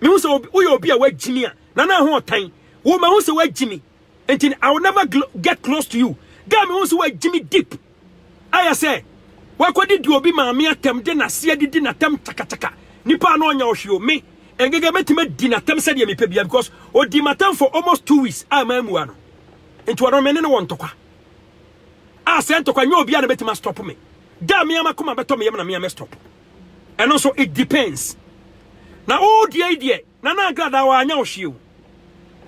Mehu sɛ woyɛ obi a wagyimi a na na ho ɔtan. Wo mahu sɛ wagyimi. Nti I will never get close to you. Da mehu sɛ wagyimi deep. Ayɛ sɛ wakɔde di obi maame atɛm de n'ase adidi n'atɛm kyakakyaka. Nipa a na ɔnya ɔhwe o me. Ɛngegɛ mɛtumi adi n'atɛm sɛdeɛ mepɛ bia because ɔdi m'atɛm for almost two weeks a mammua no. Nti ɔno me ne no wɔ ntɔkwa. A sɛ ntɔkwa nyɛ obi a na bɛtumi astɔpo me. Da mea makoma bɛtɔ me yam na mea mɛstɔpo. Ɛno nso it depends. Na wodua yi deɛ Nana Agradaa wanyɛ wo hwee o.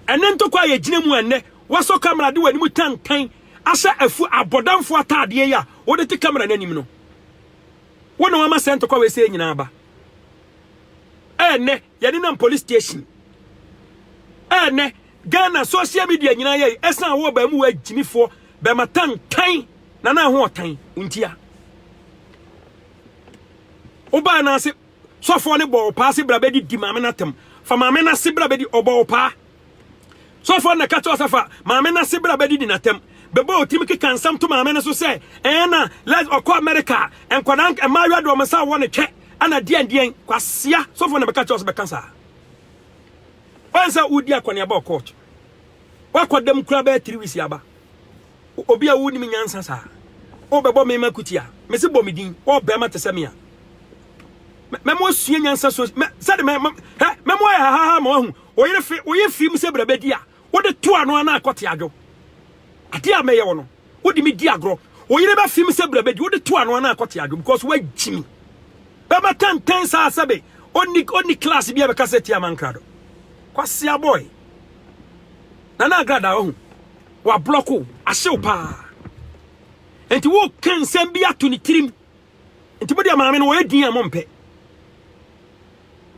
Ɛnɛ ntɔkwa a yɛgyina mu a ɛnɛ wasɔ camera de w'anim tantan ahyɛ afu abɔdamfo ataadeɛ yi a wode te camera no anim no, wo na wama saa ntɔkwa wei sɛ nyinaa aba. Ɛnɛ. Yɛnenam police station a ɛnnɛ Ghana social media nyinaa yɛ ɛsan wɔ baamu wɔ agyimifoɔ bɛma tan tan na na ho ɔtan ntia wobaa no ase sɔfoɔ ne bɔɔ paa se bra bɛdi di maame no atam fa maame no ase bra bɛdi ɔbɔɔ paa Sɔfoɔ no na ɛka kyerɛ wo sɛ fa maame no ase bra bɛdidi n'atɛm. Bɛbɔ wo tirim keka nsɛm to maame no so sɛ ɛɛ na lɛs ɔkɔ Amerika a nkwadaa mmaayewa de wɔn nsa wɔ no twɛ ana deɛn deɛn. Kwasea sɔfoɔ no na bɛka kyerɛ wo sɛ bɛka saa. Wɔn sɛ wodi akɔneaba wɔ court. Wakɔ dɛm kura bɛyɛ three weeks aba. Obi a wonim nyansa saa. Wobɛbɔ me ma kuti a mese bɔ me din wɔ bɛrima te sɛ me a mɛmo asua nyansa so sɛde mɛmo ayɛ hahaha ma wahu Wo yere fe, woyɛ firim sɛ brabadi a wode to ano anaa kɔte adwo. Adeɛ a mɛyɛ wo no, wode me di agorɔ. Wo yere bɛfem sɛ brabadi, wode to ano anaa kɔte adwo because woagyi me. Bɛbɛtɛntɛn saa sɛ be ɔnni ɔnni class bi a bɛka sɛ tia mankrado. Kwasia boy. Nana Agrada wahu. Wablɔko wo, ahye wo paa. Nti woka nsɛm bi ato ne tirim. Nti mo deɛ maame no wɔyɛ din a mompɛ.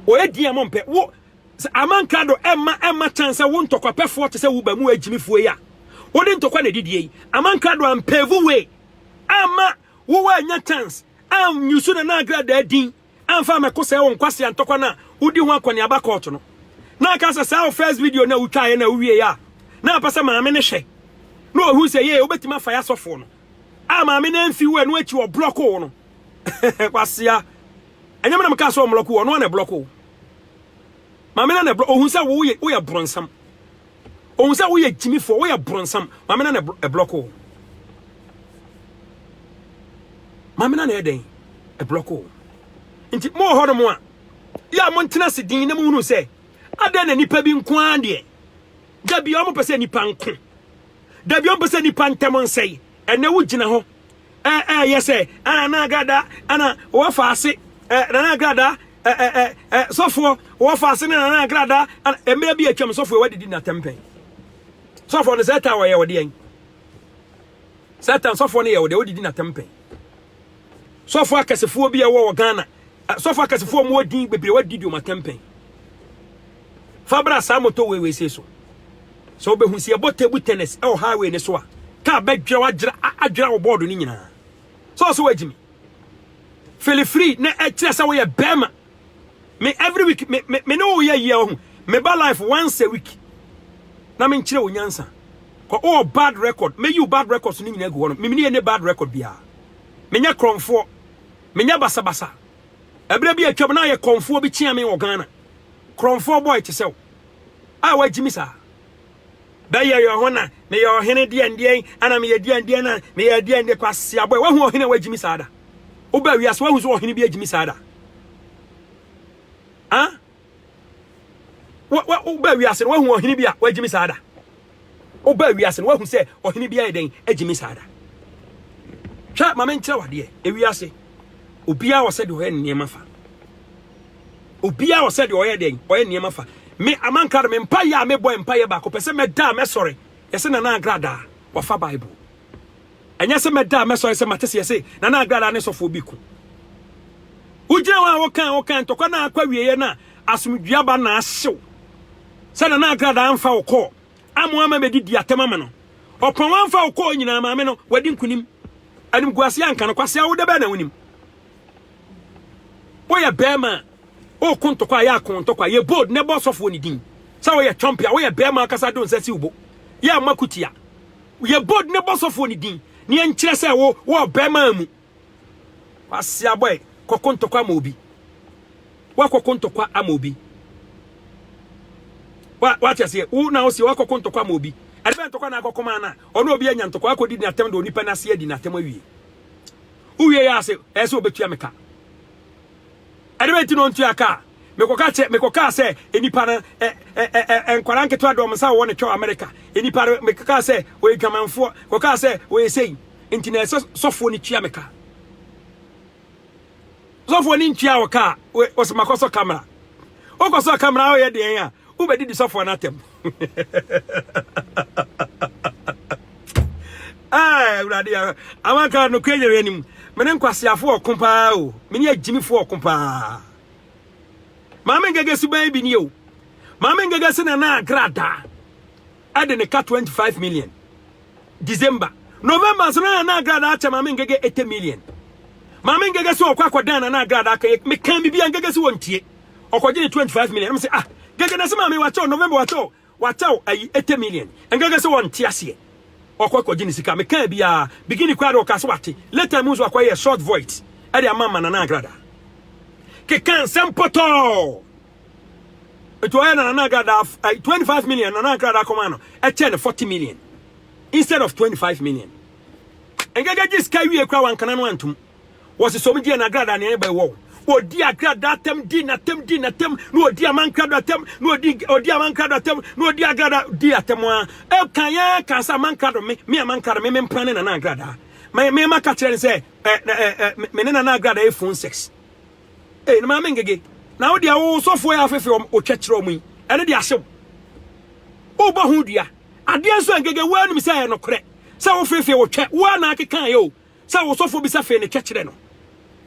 Wɔyɛ din a mompɛ. Wo Sɛ ama nkrado mma ɛmma chance sɛ wo ntɔkwapɛfoɔ te sɛ wo ba mu agyimifoɔ yi a wode ntɔkwa na ɛdidie yi, ama nkrado ampave way amma wo woanya chance anyusu Nana Agradaa din amfa amɛko sɛe wo nkwasea ntɔkwa no a wodi ho akɔneaba kɔɔto no. Na aka sɛ saa wo first video no a wotwaeɛ no a wowieɛ a na apɛ sɛ maame no hwɛ na ɔhu sɛ yee wobɛtumi afa yɛ asɔfoɔ no a maame no amfi wo ɛno akyi ɔblɔko wo no kwasea ɛnyɛ me na mekaa sɛ ɔmlɔko wo ɔno a na ɛblɔko wo Maame na na ɛblɔ. Ohun sɛ woyɛ woyɛ bronsam. Ohun sɛ woyɛ gyimifoɔ, woyɛ bronsam. Maame na na ɛblɔko o. Maame na na ɛyɛ dɛn? Ɛblɔko o. Nti mo wɔ hɔ nom a, yɛ a montena ase din na mohunu sɛ, adɛn na nipa bi nko ara deɛ, da bi wɔn pɛ sɛ nipa nko. Da bi wɔn pɛ sɛ nipa ntɛm nsɛe. Ɛnɛ wogyina hɔ Ɛ ɛ yɛ sɛ ɛ Nana Agrada ɛ na wɔ fa ase ɛ Nana Agrada ɛ ɛ ɛ ɛ sɔfoɔ wɔ fa ase ne Nana Agrada ɛ na mmerɛ bi atwam sɔfoɔ wɔ didi na tɛmpɛn sɔfoɔ no sɛ ɛtan wɔ yɛ wɔ deɛn sɛ ɛtan sɔfoɔ no yɛ wɔ deɛ wɔ didi na tɛmpɛn sɔfoɔ akɛsefoɔ bi ɛwɔ wɔ Ghana Asɔfo akɛsefoɔ a wɔwɔ din bebree wɔadi di wɔn atɛmpɛn. Fa bra saa motorway wei sei so. Sɛ wobɛhu sɛ yɛbɔ table tennis wɔ highway no so a, kaa bɛdwira wadwira adwira wo bɔɔdo no nyinaa. Sɛ ɔsɛ wagyimi. Feel free na ɛkyerɛ sɛ woyɛ bɛrima. Me every week me me me ne wo yɛ yie ɔho. Me ba life once a week. Na me nkyerɛ wo nyansa. Kɔ oh bad record. Me yiw bad records no nyinaa gu hɔ no. Me ne ne bad record biara. Menyɛ krɔmfoɔ. Menyɛ basabasa. Ɛberɛ bi a atwam no ayɛ kɔmfoɔ bi kyeaa me wɔ Ghana. Korɔmfoɔ boy te sɛ wo a wagye me saa. Bɛyɛ yɛ ho na meyɛ ɔhene deɛn deɛn ana meyɛ deɛn deɛn na meyɛ deɛn deɛn kwasea boy wahu ɔhene a wagye me saa da? Wobaa wiase wahu sɛ ɔhene bi agye me saa da? Ah? wobaa wiase no woahu ɔhene bi a wagyimi saa da wobaa wiase no woahu sɛ ɔhene bi ayɛ dɛn agyimi saa da hwɛ ma menkyerɛ wadeɛ ewiase obiara wɔ sɛ deɛ ɔyɛ nneɛma fa obiara wɔ sɛ deɛ ɔyɛ dɛn ɔyɛ nneɛma fa me amanka no mempa yɛ a mebɔ mpa yɛ baako pɛ sɛ mɛda a mɛsɔre yɛsɛ nana agradaa wafa bible Ɛnyɛ sɛ mɛda a mɛsɔre sɛ mate sɛ yɛse Nana Agradaa ne sɔfoɔ bi ko. Wogyina hɔ a woka a woka ntɔkwa no a akɔ awieeɛ no a asomdwoeɛ aba na ahyew sɛ Nana Agradaa amfa wo kɔɔ ama ama bɛdidi atɛm ama no. Ɔpɔn wamfa wo kɔɔ nyinaa maame no wadi nkunim. Animguaseɛ anka no kwasea wo da bɛɛ na wonim. Woyɛ bɛrima a woko ntɔkwa a yɛ ako ntɔkwa yɛ bold na ɛbɔ sɔfoɔ ne din sɛ woyɛ twɔmpe a woyɛ bɛrima akasa de wo nsa si wo bo yɛ mma kutia. Yɛ bold na bɔ sɔfoɔ no din na yɛnkyerɛ sɛ wo wɔ ɔbɛmaa mu. W'ase abɔ ɛ, kɔko ntɔkwa ama obi. W'akɔko ntɔkwa ama obi. W'ate aseɛ, wo na ɔseɛ w'akɔko ntɔkwa ama obi. Ɛde bɛ ntɔkwa na akɔko maa na, ɔno obi anya ntɔkwa akɔdi di n'atɛm de onipa n'ase adi n'atɛm awie. Wowie yɛ ase, ɛyɛ sɛ obetua me ka. Ɛdeɛ bɛn nti na ɔntua ka? Mekɔka kyɛ, mekɔkaa sɛ nnipa no, ɛ, ɛ, ɛ, ɛ, ɛ, nkwadaa nketewa de wɔn nsa wowɔ ne twɛ wɔ Amerika. Nnipa no, mekɔkaa sɛ wɔyɛ dwamanfoɔ, kɔkaa sɛ wɔyɛ sei. Nti na ɛsɛ sɔfoɔ no tua me ka. Sɔfoɔ no ntua wɔ ka a, wɔsɛ makɔsɔ kamera. Wokɔsɔ kamera a, woyɛ deɛn a, wobɛdidi sɔfoɔ no atɛm. ah awurade ya amaka no kwe nyere anim mene nkwasiafo ɔko paa o mene agyimifo ɔko paa maame ngege so ban bi ni o maame ngege se na na agrada ɛde ne ka 25 million december november so na na agrada akyɛ maame ngege 80 million maame ngege so ɔkɔ akɔdan na na agrada aka mekan bibia ngege so wɔntie ɔkɔgye ne twenty five million ɛna mo sɛ ah gɛgɛ na sɛ maame wakyɛw november wakyɛw wakyɛw ayi eighty million ɛngɛgɛ sɛ wɔnte aseɛ ɔkɔ akɔgye ne sika mekaa biara beginning koraa de ɔkaa sɛ wate later mu nso akɔyɛ short voice ɛde ama ma nana agrada keka nsɛm pɔtɔɔ nti ɔyɛ na nana agrada ayi twenty five million nana agrada akɔma no ɛkyɛ ne forty million instead of twenty five million ɛngɛgɛ gye sika wie koraa wankana no antum Wɔsi sɔm diɛ na agrada nea ɛbɛ wɔw. Odi agrada atam di natam di natam na odi amankrado atam na odi odi amankrado atam na odi agrada di atam a ɛkan ya kan sɛ amankrado me me amankrado me me mpra ne nana agrada me me ma ka kyerɛ ne sɛ ɛ ɛ ɛ me ne nana agrada yɛ phone sex ee ne maame ngege na wo deɛ wo sɔfo yɛ afefe wɔn otwa kyerɛ wɔn yi ɛne deɛ ahyew wobɔ ho dua adeɛ nso ngege wo anim sɛ ɛyɛ nokorɛ sɛ wofefe wotwɛ wo a na akeka yɛ o sɛ wo sɔfo bisa fei no twɛ kyerɛ no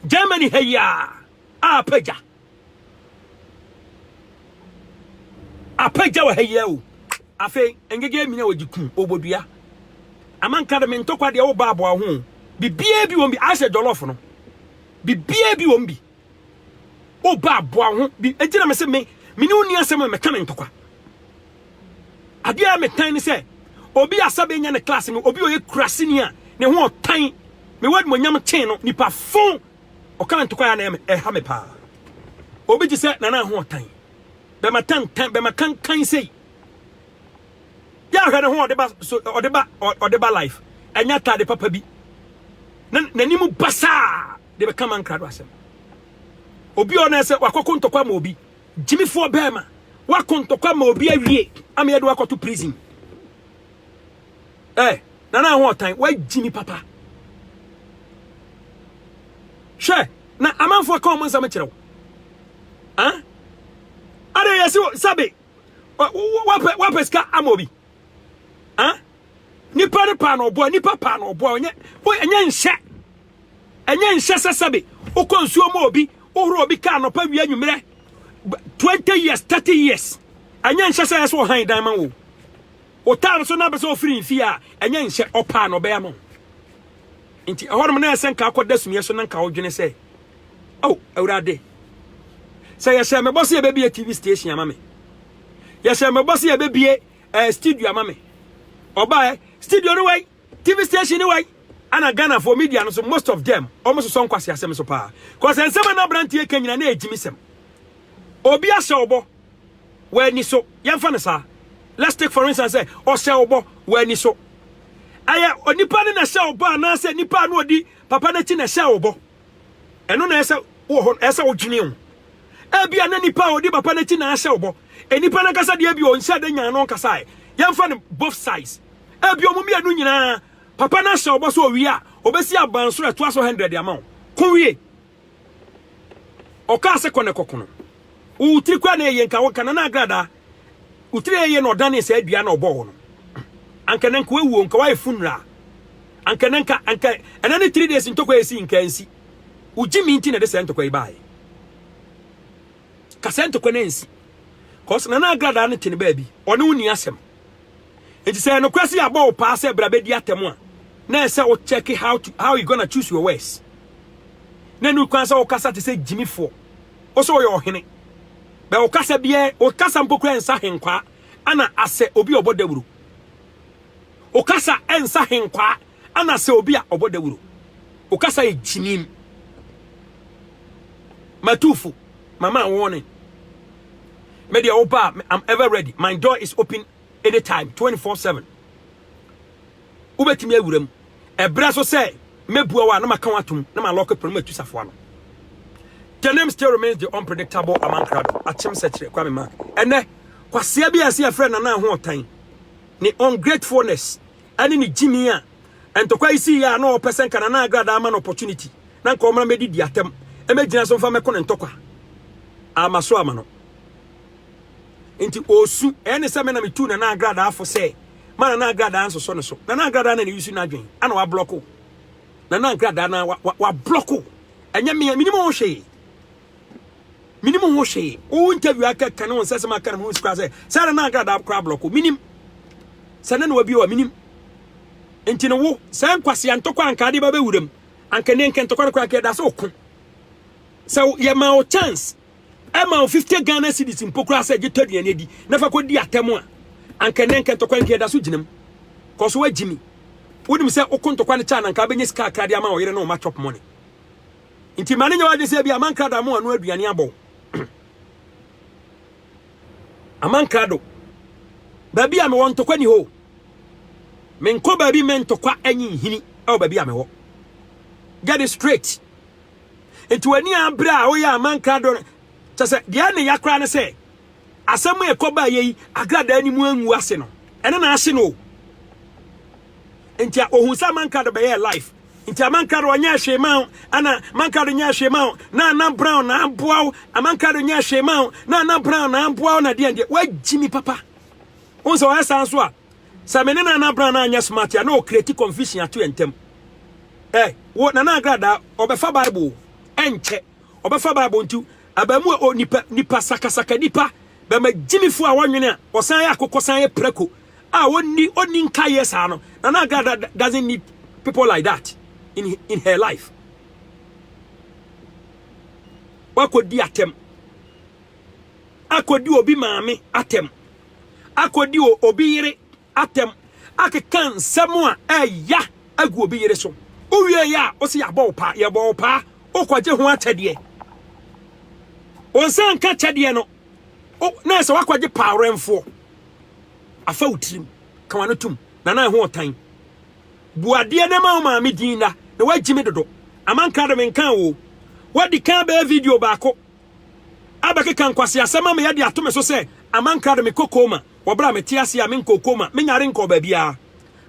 Germany ha yi a apagya apagya wɔ ha yi o afei ngege minya wɔ gye kum obodua amanka de me ntokwa deɛ wo baaboa ho bibia bi wɔn bi asɛ jollof no bibia bi wɔn bi Wo ba aboa wo ho bi enti na mese me me ne wo ni asɛm a mɛka ne ntɔkwa. Adeɛ a metan ne sɛ obi a sɛ bɛnya ne class mu obi a ɔyɛ kuraseni a ne ho ɔtan me wɔ adumonyam kyɛn no nipa fo ɔka ntɔkwa a na ɛha me paa. Obi te sɛ nana ho ɔtan bɛma tantan bɛma kankan sei yɛ ahwɛ ne ho ɔde ba so ɔde ba ɔde ba life ɛnya taade papa bi n'anim basaa. de bɛka ma nkra do asɛm obi a ɔnɛ sɛ wakɔko ntɔkwa ma obi gyimifoɔ bɛɛma wakɔ ntɔkwa ma obi awie ama yɛde wakɔto prison ɛ eh, nana ho ɔtan wagyimi papa hwɛ na amanfoɔ ka ɔmo nsɛm kyerɛ wo ah? ada yɛsi sɛbe wapɛ sika ama obi ah? nipa ne paa na ɔboa nipa paa na ɔboa ɔnyɛ ɔnyɛ nhyɛ Ɛnyɛ nhyɛ sɛ sɛbe wokɔ nsuo mu obi wohoro obi ka anɔpa wia nwumerɛ 20 years 30 years ɛnyɛ nhyɛ sɛ ɛsɛ ɔhan dan ma wo wotaa no so na bɛsɛ ofiri mfie a ɛnyɛ nhyɛ ɔpaa na ɔbɛyɛ ma nti ɛhɔnom na ɛsɛ nka akɔda sumiɛ so na nka wodwene sɛ oh awurade sɛ yɛhyɛ mebɔ sɛ yɛbɛbie tv station ama me yɛhyɛ mebɔ sɛ yɛbɛbie eh, studio ama me ɔbaɛ studio no wai TV station ni wai ana Ghana for media no so most of them omo sosɔ nkwasi asɛm so paa cause nsɛm ana abranteɛ ka nyina na ɛgyimi sɛm obi ahyɛ ɔbɔ wɔ ani so yɛmfa no saa let's take for instance sɛ ɔhyɛ ɔbɔ wɔ ani so ɛyɛ onipa ne na hyɛ ɔbɔ anaasɛ nipa a na ɔdi papa n'akyi na hyɛ ɔbɔ Ɛno na ɛsɛ wɔ hɔ no, ɛsɛ wodwene ho. Ebia na nipa a ɔdi papa no akyi na ahyɛ wo bɔ. Nipa no ankasa deɛ ebia ɔnhyɛ da nyaa no ɔnkasa ɛ. Yɛmfa no both sides. Ebia wɔn mmienu nyinaa, papa no ahyɛ wo bɔ sɛ owie a, ɔbɛsi abansoro a ɛtoa so hundred ama wo. Ko wie. Ɔkaa sɛ kɔ na kɔko no. Wo tiri koraa na ɛyɛ nka wo nka na na agradaa. Wotire yie na ɔdanee saa dua na ɔbɔɔ wo no, anka ɛnɛ nka wawu o, nka wayɛ funeral. Anka ɛnɛ nka, anka ɛnɛ ne three days ntɔkwa yɛ si nka nsi. Wogye me nti na ɛde saa ntɔkwa yi baayɛ. Ka saa ntɔkwa no ansi. Cause Nana Agradaa no te ne baabi, ɔne wo ni asɛm. Nti sɛ ɛnokorɛ sɛ yɛabɔ wo paa sɛ bra bɛdi atɛm a, na ɛsɛ wo check how, to, how you gonna choose your words. Na ɛnu kwan sɛ wokasa te sɛ gyimifoɔ. Wo sɛ woyɛ ɔhene. Bɛ ɔkasa biaa ɛ, ɔkasa mpo koraa ɛnsa henkwaa ana asɛ obi a ɔbɔ dawuro. Ɔkasa ɛnsa henkwaa ana asɛ obi a ɔbɔ dawuro. Ɔkasa yɛ gyinim. Matufo, mama warning. Me deɛ ɔba, I'm ever ready. My door is open anytime, 24/7. Wobɛtumi awura mu. Ɛberɛ so sɛ mɛbua wo a na maka wo atom na malɔke pono no matu safoa no. The name still remains the unpredictable among Krado, Akyem Sɛkyerɛ, Kwame Mark. Ɛnnɛ, kwasea bi a ɛsɛ yɛfrɛ Nana Ahoɔtan, ne ungratefulness ne ne gyimii a ntɔkwa yi siiɛ a na ɔpɛ sɛ nka Nana Agradaa ama no opportunity na nka ɔmmra mmɛdidi atɛm mmɛgyina so mfa mmɛko ne ntɔkwa a ama so ama no. Nti ɔresu. Ɛyɛ ne sɛ me na metuu Nana Agradaa fo sɛ ma Nana Agradaa nsosɔ ne so. Nana Agradaa na ne yusu n'adwene ana wablɔko. Nana Agradaa na wablɔko. Ɛnyɛ me, menim ho hwee. Menim ho hwee. Wo interview aka ka ne ho nsɛsɛm aka no mu nsi koraa sɛ sɛ Nana Agradaa koraa blɔko. Menim. Sɛ ne na wabi wa menim. Nti no wo sɛ nkwasea ntɔkwa anka ade ba bɛwuram. Anka ne nka ntɔkwa no koraa kɛ da sɛ ɔko. Sɛ yɛma wo chance ɛma wo 50 Ghana cedis mpo koraa sɛ gye tɔ aduane adi na fa kɔdi atɛm a anka nnɛ nka ntɔkwa nka ɛda so gyinam kɔ so agyi me wonim sɛ woko ntɔkwa no kyɛ na nka wobɛnya sika akra de ama ɔyere ne ɔma chop money nti ma ne nyɛ w'adwene sɛ bi ama nkrada mo ano aduane abɔ ama nkrado baabi a mewɔ ntɔkwa ni hɔ menkɔ baabi mɛ ntɔkwa anyi nhini ɛwɔ baabi a mewɔ get it straight Enti w'ani abere a woyɛ ama nkrado no, kyɛ sɛ deɛ ɛne ya koraa ne sɛ asɛm a ɛkɔ baa yɛ yi agradaa no mu angu ase no, ɛne na ahye no o. Enti a ohun sɛ ama nkrado bɛyɛɛ life. Nti ama nkrado ɔnyɛɛ hwee ma wo, ana ama nkrado nyɛɛ hwee ma wo, na ana brown na aboa wo, ama nkrado nyɛɛ hwee ma wo, na ana brown na aboa wo na deɛ deɛ, woagyi me papa. Wohu sɛ ɔyɛ saa nso a, sɛ me ne Nana Abraham no anyɛ smart a, na ɔkreti confusion ato yɛn ntam. Ɛ, wo Nana Agradaa, ɔbɛfa Bible o, ɛnkyɛ, ɔbɛfa Bible nti, abaamu a o nipa, nipa sakasaka nipa, bɛma gyimifo a wɔnwene a, ɔsan yɛ akokɔ san yɛ prako a ɔnni, ɔnni nkaeɛ saa no, Nana Agradaa doesn't need people like that in, in her life. Wakɔdi atɛm, akɔdi obi maame atɛm. akɔdi obi yere atɛm akeka nsɛm a ɛya agu obi yere so. Wowie yɛ a, wo se yɛabɔ wo paa, yɛbɔ wo paa, wokɔgye ho akyɛdeɛ. Wo nsa nka kyɛdeɛ no, na sɛ woakɔgye paawerɛmfoɔ. Afa wo tirim, ka w'ano tom, na na ɛho ɔtan. Bu adeɛ na ma wo maame din na, na woagye me dodo. Amanka de menkaa wo o. Woadi kan bɛyɛ video baako. abɛkeka nkwaseasɛm ama yɛde ato me so sɛ ama nkra de me kɔ koma wɔ bere a mete ase a menkɔɔ koma, menyaa de nkɔɔ baabiara.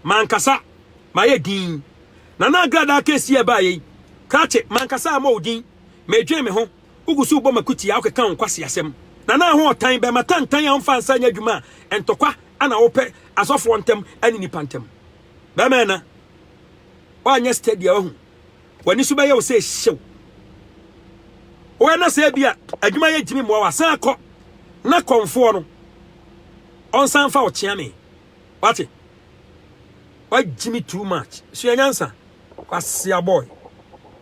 M'ankasa mayɛ dinn. Na na agradaa kɛse yi a ɛbaeɛ yi, krakye, m'ankasa ama wo din. Medwen me ho, wogu so rebɔ m'akutia, wokeka wo nkwaseasɛm. Na na ho ɔtan, bɛmma tantan a wɔmfa nsa nyɛ adwuma a ntɔkwa na wopɛ asɔfoɔ ntam ne nnipa ntam. Bɛmma ɛna, woanyɛ steady a, woahu. W'ani so bɛyɛ wo sɛ hyew. Woyɛ na sɛ ebia adwuma yɛ ntumi mmoa wo a, san kɔ na kɔmfoɔ no ɔnsan fa wo kyea me. Wate? Wagyimi too much. Sua nyansa. Kwasia boy.